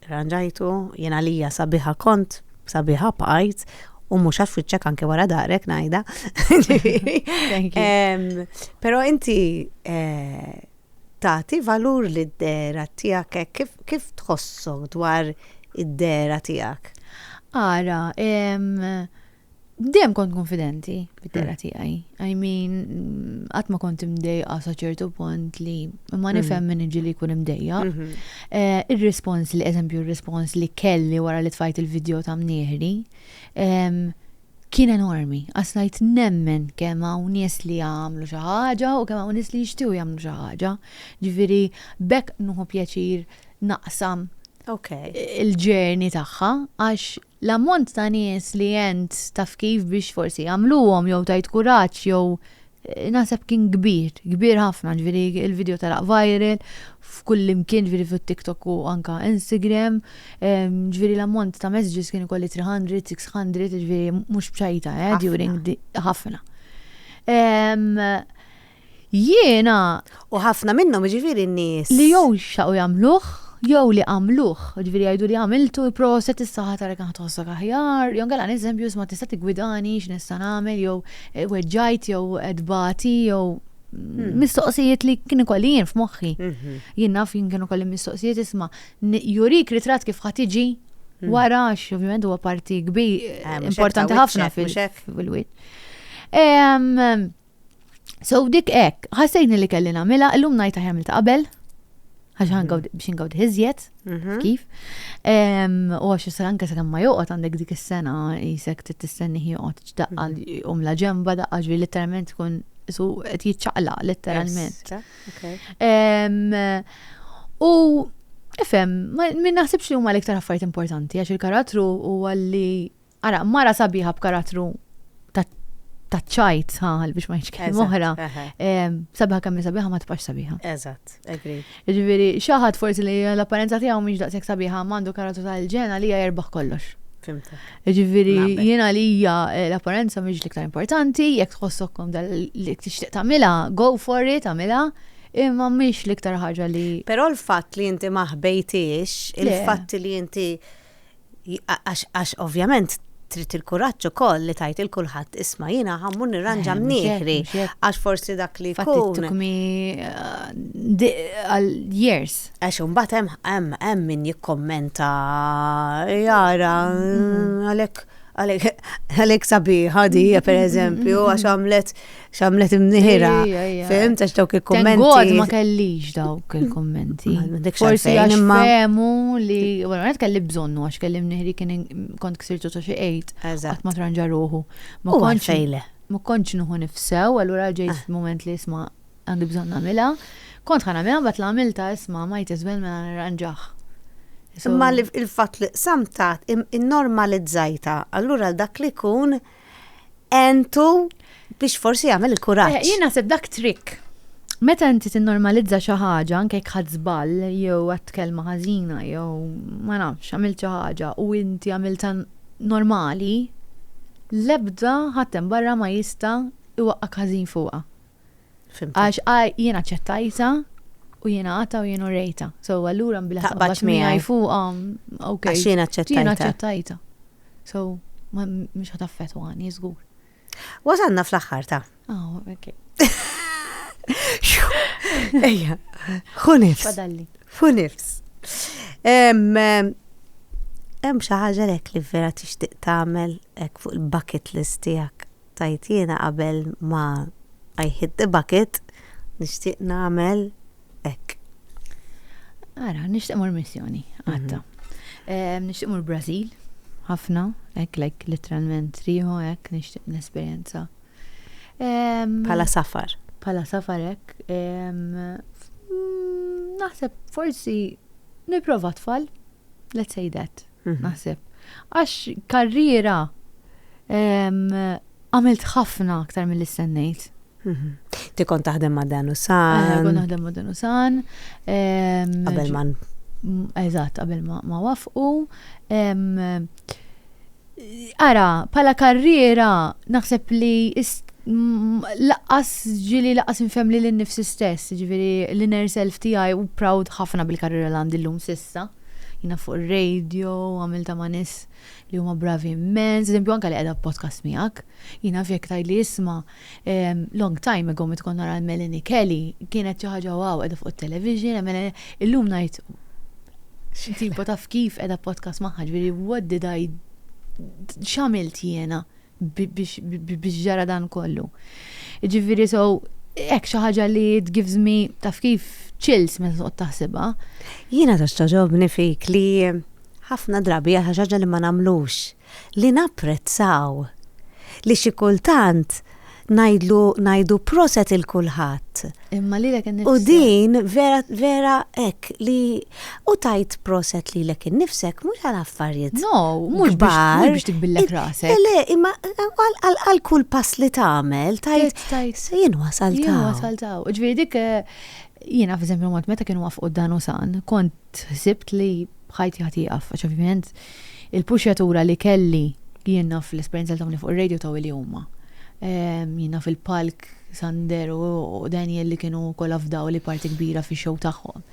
Irranġajtu, jien għalija sabiħa kont, sabiħa bqajt, u mhux għax fiċċek anke wara darek ngħidha. Thank you. Però inti eh, tagħti valur lid-dera tiegħek hekk, kif, kif tħossok dwar id-dera tiegħek? Ara, em, Dem kont konfidenti bit-terra hmm. tiegħi. I mean, qatt ma kont imdejqa sa ċertu punt li ma hmm. nifhem minn iġi li jkun imdejja. Hmm. Eh, ir-rispons li, eżempju, ir-rispons li kelli wara li tfajt il-video ta' mnieħri, kien enormi. Għasnajt nemmen kemm hawn nies li jagħmlu xi ħaġa u kemm hawn nies li jixtiequ jagħmlu xi ħaġa. Ġifieri bekk nuħu pjaċir naqsam okay. il-ġerni tagħha għax L-ammont ta' nies li għent taf kif biex forsi għamluhom jew tajt kuraġġ jew naħseb kien kbir, kbir ħafna ġifieri il-video telaq viral f'kullimkien ġifieri fuq TikTok u anka Instagram ġifieri l-ammont ta' messages kien ikolli 300, 600 ġifieri mhux b'xajta eh during ħafna. Jiena. U ħafna minnhom, jiġifieri n-nies. Li jew xtaqu jagħmluh, jew li għamluh, jiġifieri jgħidu li għamiltu, proset issa ħa tara kemm ħa tħossok aħjar, jew inkella nies eżempju isma' tista' tiggwidani x'nista' nagħmel jew weġġajt jew qed bagħti jew mistoqsijiet li kien ikolli jien f'moħħi. Jien naf jien kien ikolli mistoqsijiet isma' jurik ritratt kif ħa tiġi wara għax ovvjament huwa parti kbir importanti ħafna fil-wiċċ. So dik hekk, ħassejni li kelli nagħmilha, illum ngħid aħjar ta' qabel, għax mhm. biex ingawd iżjed, mhm. kif. U għax s anke sa' ma joqgħod għandek dik is-sena jisek tistenni joqgħod ċdaqqa mhm. um la ġemba daqqa ġri literalment tkun su qed jiċċaqla literalment. U ifhem, min naħsibx li huma l-iktar affarijiet importanti għax il-karattru huwa li Ara, mara sabiħa b'karattru ta' ta' ċajt, ha, biex ma jċkil Eżatt, moħra. eħe. Em, Sabiħa kemm hi sabiħa ma tibqax sabiħa. Eżatt, agree. Ġifieri, xi ħadd forsi li l-apparenza tiegħu mhix daqshekk sabiħa ma għandu karattru tal-ġen għalija jerbaħ kollox. Fimtek. Ġifieri, Naqbel. jien għalija eh, l-apparenza mhix l-iktar importanti, jekk tħossok komda li tixtieq tagħmilha, go for it, tagħmilha, imma mhix l-iktar ħaġa li Però l-fatt li inti ma ħbejtiex, Le. il-fatt li inti Għax ovvjament trid il-kuraġġ ukoll li tajt il kulħadd isma' jiena ħammur nirranġa eh, mnieħri għax forsi dak li jkun. took me uh, years. Għax imbagħad hemm hemm hemm min jikkommenta jara mm-hmm. għalhekk għalek sabiħa di, per eżempju, għax għamlet xamlet imniħira. Fim, tax dawk il-kommenti. Għod ma kellix dawk il-kommenti. Forsi għax femu li, għu għed kelli bżonnu għax kelli mniħri kien kont ksirtu ta' xie għejt. Għat ma tranġa ruħu. Ma konċ fejle. Ma konċ nuħu nifsew, għallura ġejt ah. f-moment li jisma għandi bżon namila. Kont ħana mela bat l-għamilta jisma ma jtizben mela nranġaħ. Imma il-fat li samtat in-normalizzajta, allura dak li kun entu biex forsi jagħmel il-kuraġġ. Eh, jien naħseb dak trick. Meta inti tinnormalizza xi ħaġa anke jekk ħadd żball jew għad kelma ħażina jew ma nafx għamilt xi ħaġa u inti għamilta normali, l-ebda ħadd hemm barra ma jista' iwaqqak ħażin fuqha. Għax jiena ċettajta u jiena għata u jiena rejta. So allura mbila taqbax miegħi fuqha. Għax jiena ċettajta. Jiena ċettajta. So mhux ħataffet għani, żgur. Wasanna fl-aħħar ta'. Ah, ok. Ejja, xunifs. Fadalli. Xunifs. Hemm xi ħaġa lek li vera tixtieq tagħmel hekk fuq il-bucket list tiegħek. Tgħid jiena qabel ma I hit the bucket nixtieq nagħmel hekk. Ara, nixtieq mur missjoni, għatta. Ehm, nixtieq mur Brażil, ħafna, hekk lek literalment riħu hekk nixtieq nesperjenza. Ehm, Pala safar. Pala safar hekk. Ehm, mm, naħseb forsi niprofa tfal. Let's say that, naħseb. Għax karriera għamilt ħafna aktar mill istennejt. Mhm. Ti kont taħdem ma' Dan Usan. Eh, kont taħdem ma' Dan Usan. Qabel ma. Eżatt, qabel ma wafqu. Ara, bħala karriera naħseb li laqqas ġili laqqas infhem li l-nifsi stess, ġifieri l-inner self tiegħi u proud ħafna bil-karriera li għandi llum sissa. Jina fuq ir-radio, għamilta ma' nis li huma bravi immens, eżempju anke li qiegħda podcast miegħek. Jina fjek tajli isma' Long time ago meta kont nara l-Melanie Kelly kienet xi ħaġa wow qiegħda fuq it-television, illum ngħid x'tipa taf kif qiegħda podcast magħha ġifieri what did I x'għamilt jiena biex ġara dan kollu. Ġifieri so hekk xi ħaġa li it gives me taf kif chills meta toqgħod taħsibha. Jiena ta' xtaġobni fik li ħafna drabi għal ħaġa li ma nagħmlux li napprezzaw li xi kultant ngħidlu ngħidu proset il kulħadd. Imma lilek innifsek. U din vera vera hekk li u tajt proset lilek innifsek mhux għal affarijiet. No, mhux biex tikbillek rasek. Le, imma għal kull pass li tagħmel tajt tajt jien wasal taw. Jien wasal taw. Ġifieri dik eh, jiena f'eżempju mod meta kienu wafqu dan u san, kont ħsibt li ħajti ħati jgħaf, għax ovvjament il-puxjatura li kelli jien naf l-esperjenza li tawni fuq ir-radio taw li huma. Ehm, jien naf il-palk Sander u Daniel li kienu kollha fdaw li parti kbira fi show tagħhom.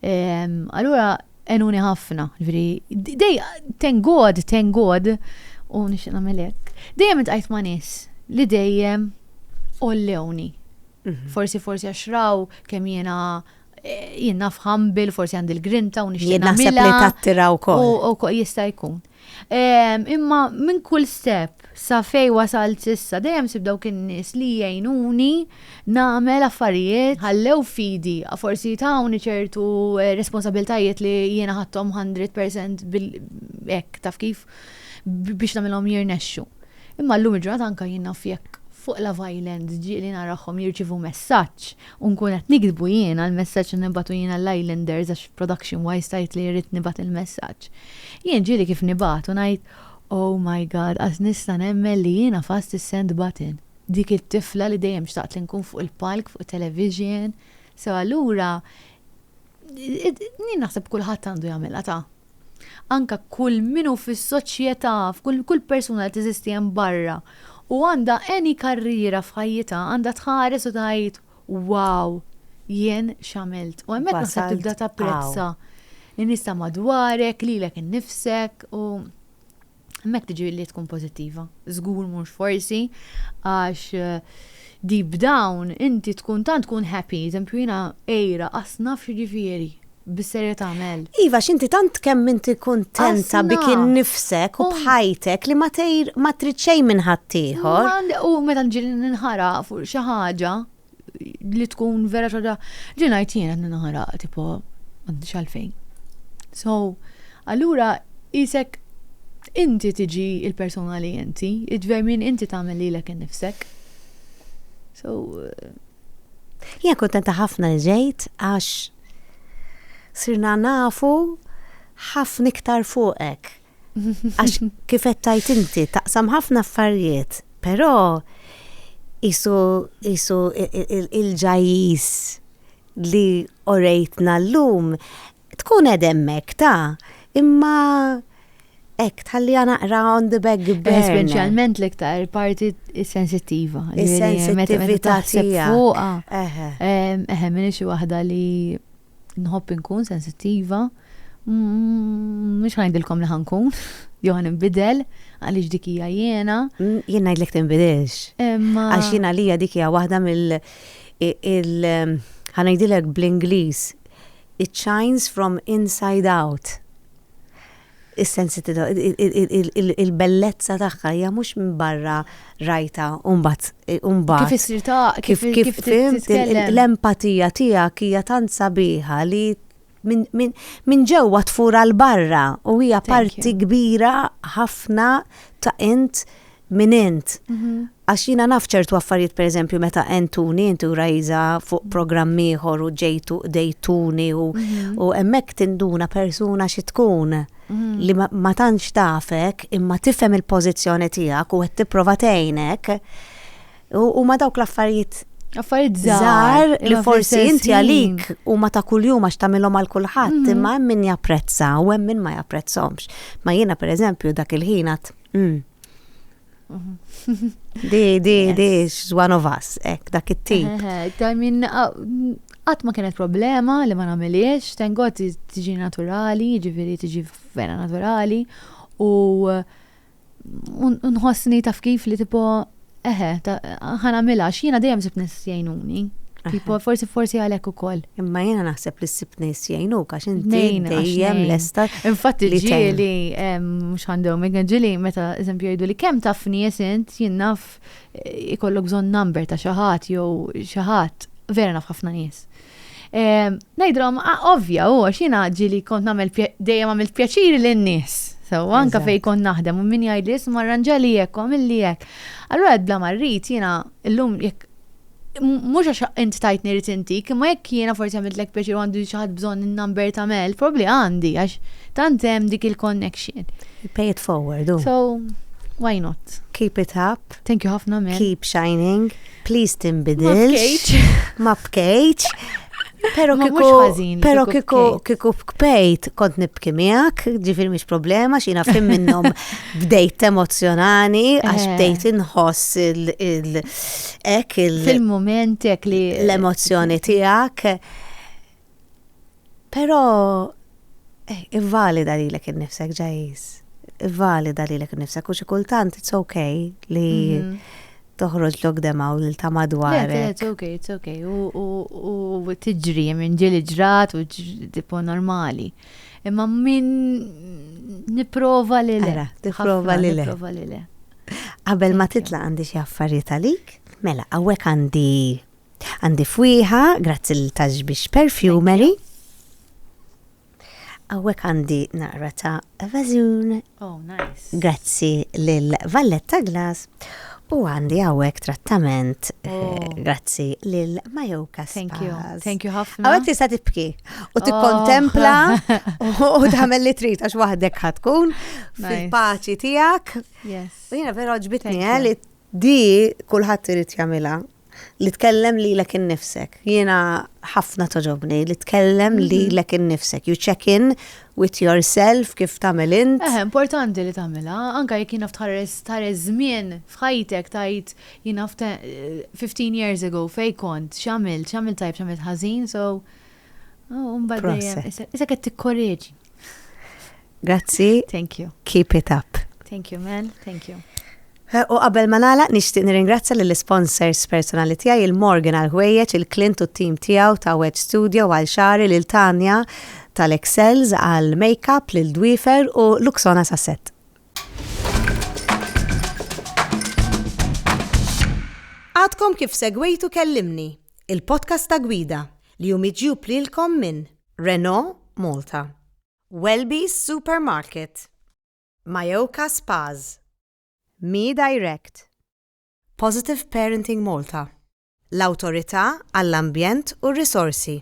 Ehm, allura enuni ħafna, ġifieri dej thank God, thank God u nixtieq nagħmel hekk. Dejjem intqajt ma' nies li dejjem ollewni. Mhm. Forsi forsi għax raw kemm jiena Jien naf humble, forsi għandi l-grinta u nixtieq nagħmilha. Jien naħseb li tattira wkoll. U wkoll jista' jkun. Imma minn kull step sa fej wasalt sissa dejjem sib dawk in-nies li jgħinuni nagħmel affarijiet ħallew fidi, forsi tawni ċertu responsabiltajiet li jiena ħadthom hundred percent hekk taf kif biex nagħmilhom jirnexxu. Imma llum il-ġurnata anke jien naf jekk fuq Love Island ġieli narahom jirċievu messaġġ U nkun qed niktbu jiena l-messaġġ li nibgħatu jiena l-Islanders għax production wise tgħid li rrid nibgħat il-messaġġ. Jien ġieli kif nibgħat u ngħid, Oh my God, qas nista' nemmen li jiena fast is-send button. Dik it-tifla li dejjem xtaqt li nkun fuq il-palk, fuq it-television. So allura, din naħseb kulħadd għandu jagħmilha ta. anke kull min hu fis-soċjetà, f'kull kull persuna li teżisti hemm barra u għandha any karriera f'ħajjitha għandha tħares u tgħid wow jien x'għamilt. U hemmhekk naħseb tibda tapprezza n-nies ta' madwarek, lilek innifsek u. Hemmhekk tiġi li tkun pożittiva. Żgur mhux forsi għax di b'dawn inti tkun tant tkun happy, eżempju jiena għira qass naf x'jiġifieri bis-serjetà Mel. Iva x'inti tant kemm inti kuntenta bik innifsek u b'ħajtek li ma trid xejn minn ħaddieħor. U meta nġi ninħaraq fuq xi ħaġa, li tkun vera ċoda li ngħid jien qed naħraq tipo m'għandix għalfejn. So, allura isek inti tiġi il-persona li inti, id-dver minn inti tagħmel lilek innifsek. So, eh, Jien kontenta ħafna li ġejt għax sirna nafu ħafna iktar fuqek. Għax kif qed tajt inti taqsam ħafna affarijiet, però isu isu il-ġajjiż li orejtna llum tkun qed hemmhekk ta' imma hekk tħalli naqra on the back burner. Speċjalment l-iktar parti sensittiva. Is-sensittività tiegħek. Fuqha. Eħe, minix waħda li nħobb inkun sensittiva, mhux ħajdilkom li ħankun, jew ħan inbidel, għaliex dik hija jiena. Mm, jien ngħidlek tinbidilx. Għax jiena lija dik hija waħda mill ħanajdilek bl-Ingliż, it shines from inside out. is-sensittività, il-bellezza tagħha hija mhux minn barra rajtha u mbagħad u mbagħad. Kif issir ta' kif kif titkellem. L-empatija tiegħek hija tant sabiħa li minn ġewwa tfur għal barra u hija parti kbira ħafna ta' int minn int. Mhm. Għax jiena naf ċertu affarijiet pereżempju meta għentuni inti u Rajza fuq programm ieħor u ġejtu dejtuni u mhm. hemmhekk tinduna persuna xi tkun mhm. li ma tantx tafek imma tifhem il-pożizzjoni tiegħek u qed tipprova tgħinek u ma dawk l-affarijiet Affarijiet żgħar li forsi inti għalik u ma ta' kuljum għax tagħmilhom għal kulħadd mhm. imma hemm min japprezza u hemm min ma japprezzhomx. Ma jiena pereżempju dak il-ħinat mm, Di, di, di, one of us, ek, dak it-tip. I mean, għat ma kienet problema li ma namiliex, tengot tiġi naturali, ġifiri tiġi vera naturali, u nħossni taf kif li tipo, eħe, ħana mela, xina dejjem zib nis jajnuni. Tipo, forsi forsi għalek u koll. Imma jena naħseb li s-sib nis jajnu, għax inti dejjem l-esta. Infatti ġili, mux għandhom, ġili meta eżempju jgħidu li kem taf nies int jinnaf eh, ikollok zon number ta' xaħat jew xaħat, vera naf ħafna nies. Najdrom, ah, ovvja, u għax jena ġili kont namel dejjem għamil pjaċiri l-nies. So, anka fej kon naħdem, u min jgħid li jisma ranġali jek, u għamil li jek. Allora, bla marrit, jena, l-lum, jek mhux għax int tajtni rrid intik, imma jekk jiena forsi għamiltlek pjaċir u għandu xi ħadd bżonn in-number ta' Mel, probabbli għandi għax tant hemm dik il-connection. Pay it forward, u. So, why not? Keep it up. Thank you ħafna Mel. Keep shining. Please tinbidilx. Ma bkejċ. Ma bkejċ. Pero kiku, pero kiku, kiku bkejt kont nibki miegħek, ġifir mhix problema, xina fim minnhom bdejt emozjonani, għax eh. bdejt inħoss il- hekk il- Fil-mument hekk li l-emozzjoni tiegħek. Però eh, ivvalida lilek innifsek ġajis. Ivvalida lilek innifsek u xi kultant it's okay li mhm. toħroġ lok demaw lil ta' madwar. It's okay, it's okay. U tiġri minn ġili ġrat u tipo normali. Imma minn niprova li le. Niprova li le. Qabel ma titla' għandi xi affarijiet għalik. Mela, hawnhekk għandi għandi fwieħa, grazzi l taġ biex perfumery. Hawnhekk għandi naqra ta' vażun. Oh, nice. Grazzi lil Valletta Glass. U għandi għawek trattament, eh, oh. grazzi lil Majoka Spas. Thank you, thank you ħafna. Għawek tista tibki. U oh. tikkontempla u tagħmel li trid għax waħdek ħatkun fil-paċi tiegħek. U jiena vera ġbitni eh, li di kulħadd irid jagħmilha li tkellem li lek innifsek. Jiena ħafna toġobni li tkellem li mhm. lek innifsek. You check in with yourself kif tagħmel int. Eh, importanti li tagħmilha, anke jekk jiena tħares tħares żmien f'ħajtek tajt jiena 15 eh, years ago fej kont, x'għamilt, x'għamilt tajb, x'għamilt ħażin, so Oh, mbagħad dejjem. Issa qed tikkoreġi. Grazzi. Thank you. Keep it up. Thank you, man. Thank you. U qabel ma nagħlaq nixtieq nirringrazzja lill sponsors personali tiegħi il-Morgan għal ħwejjeġ il-Clint u t-tim tiegħu ta' Wet Studio għal xari lil Tanja tal-Excels għal makeup lil Dwifer u Luxona Sasset. Għadkom kif segwejtu kellimni. il-podcast ta' gwida li hu miġjub lilkom minn Renault Malta, Welby's Supermarket, Mayoka Spas, Me Direct, Positive Parenting Malta, l-Awtorità għall-Ambjent u r-Risorsi.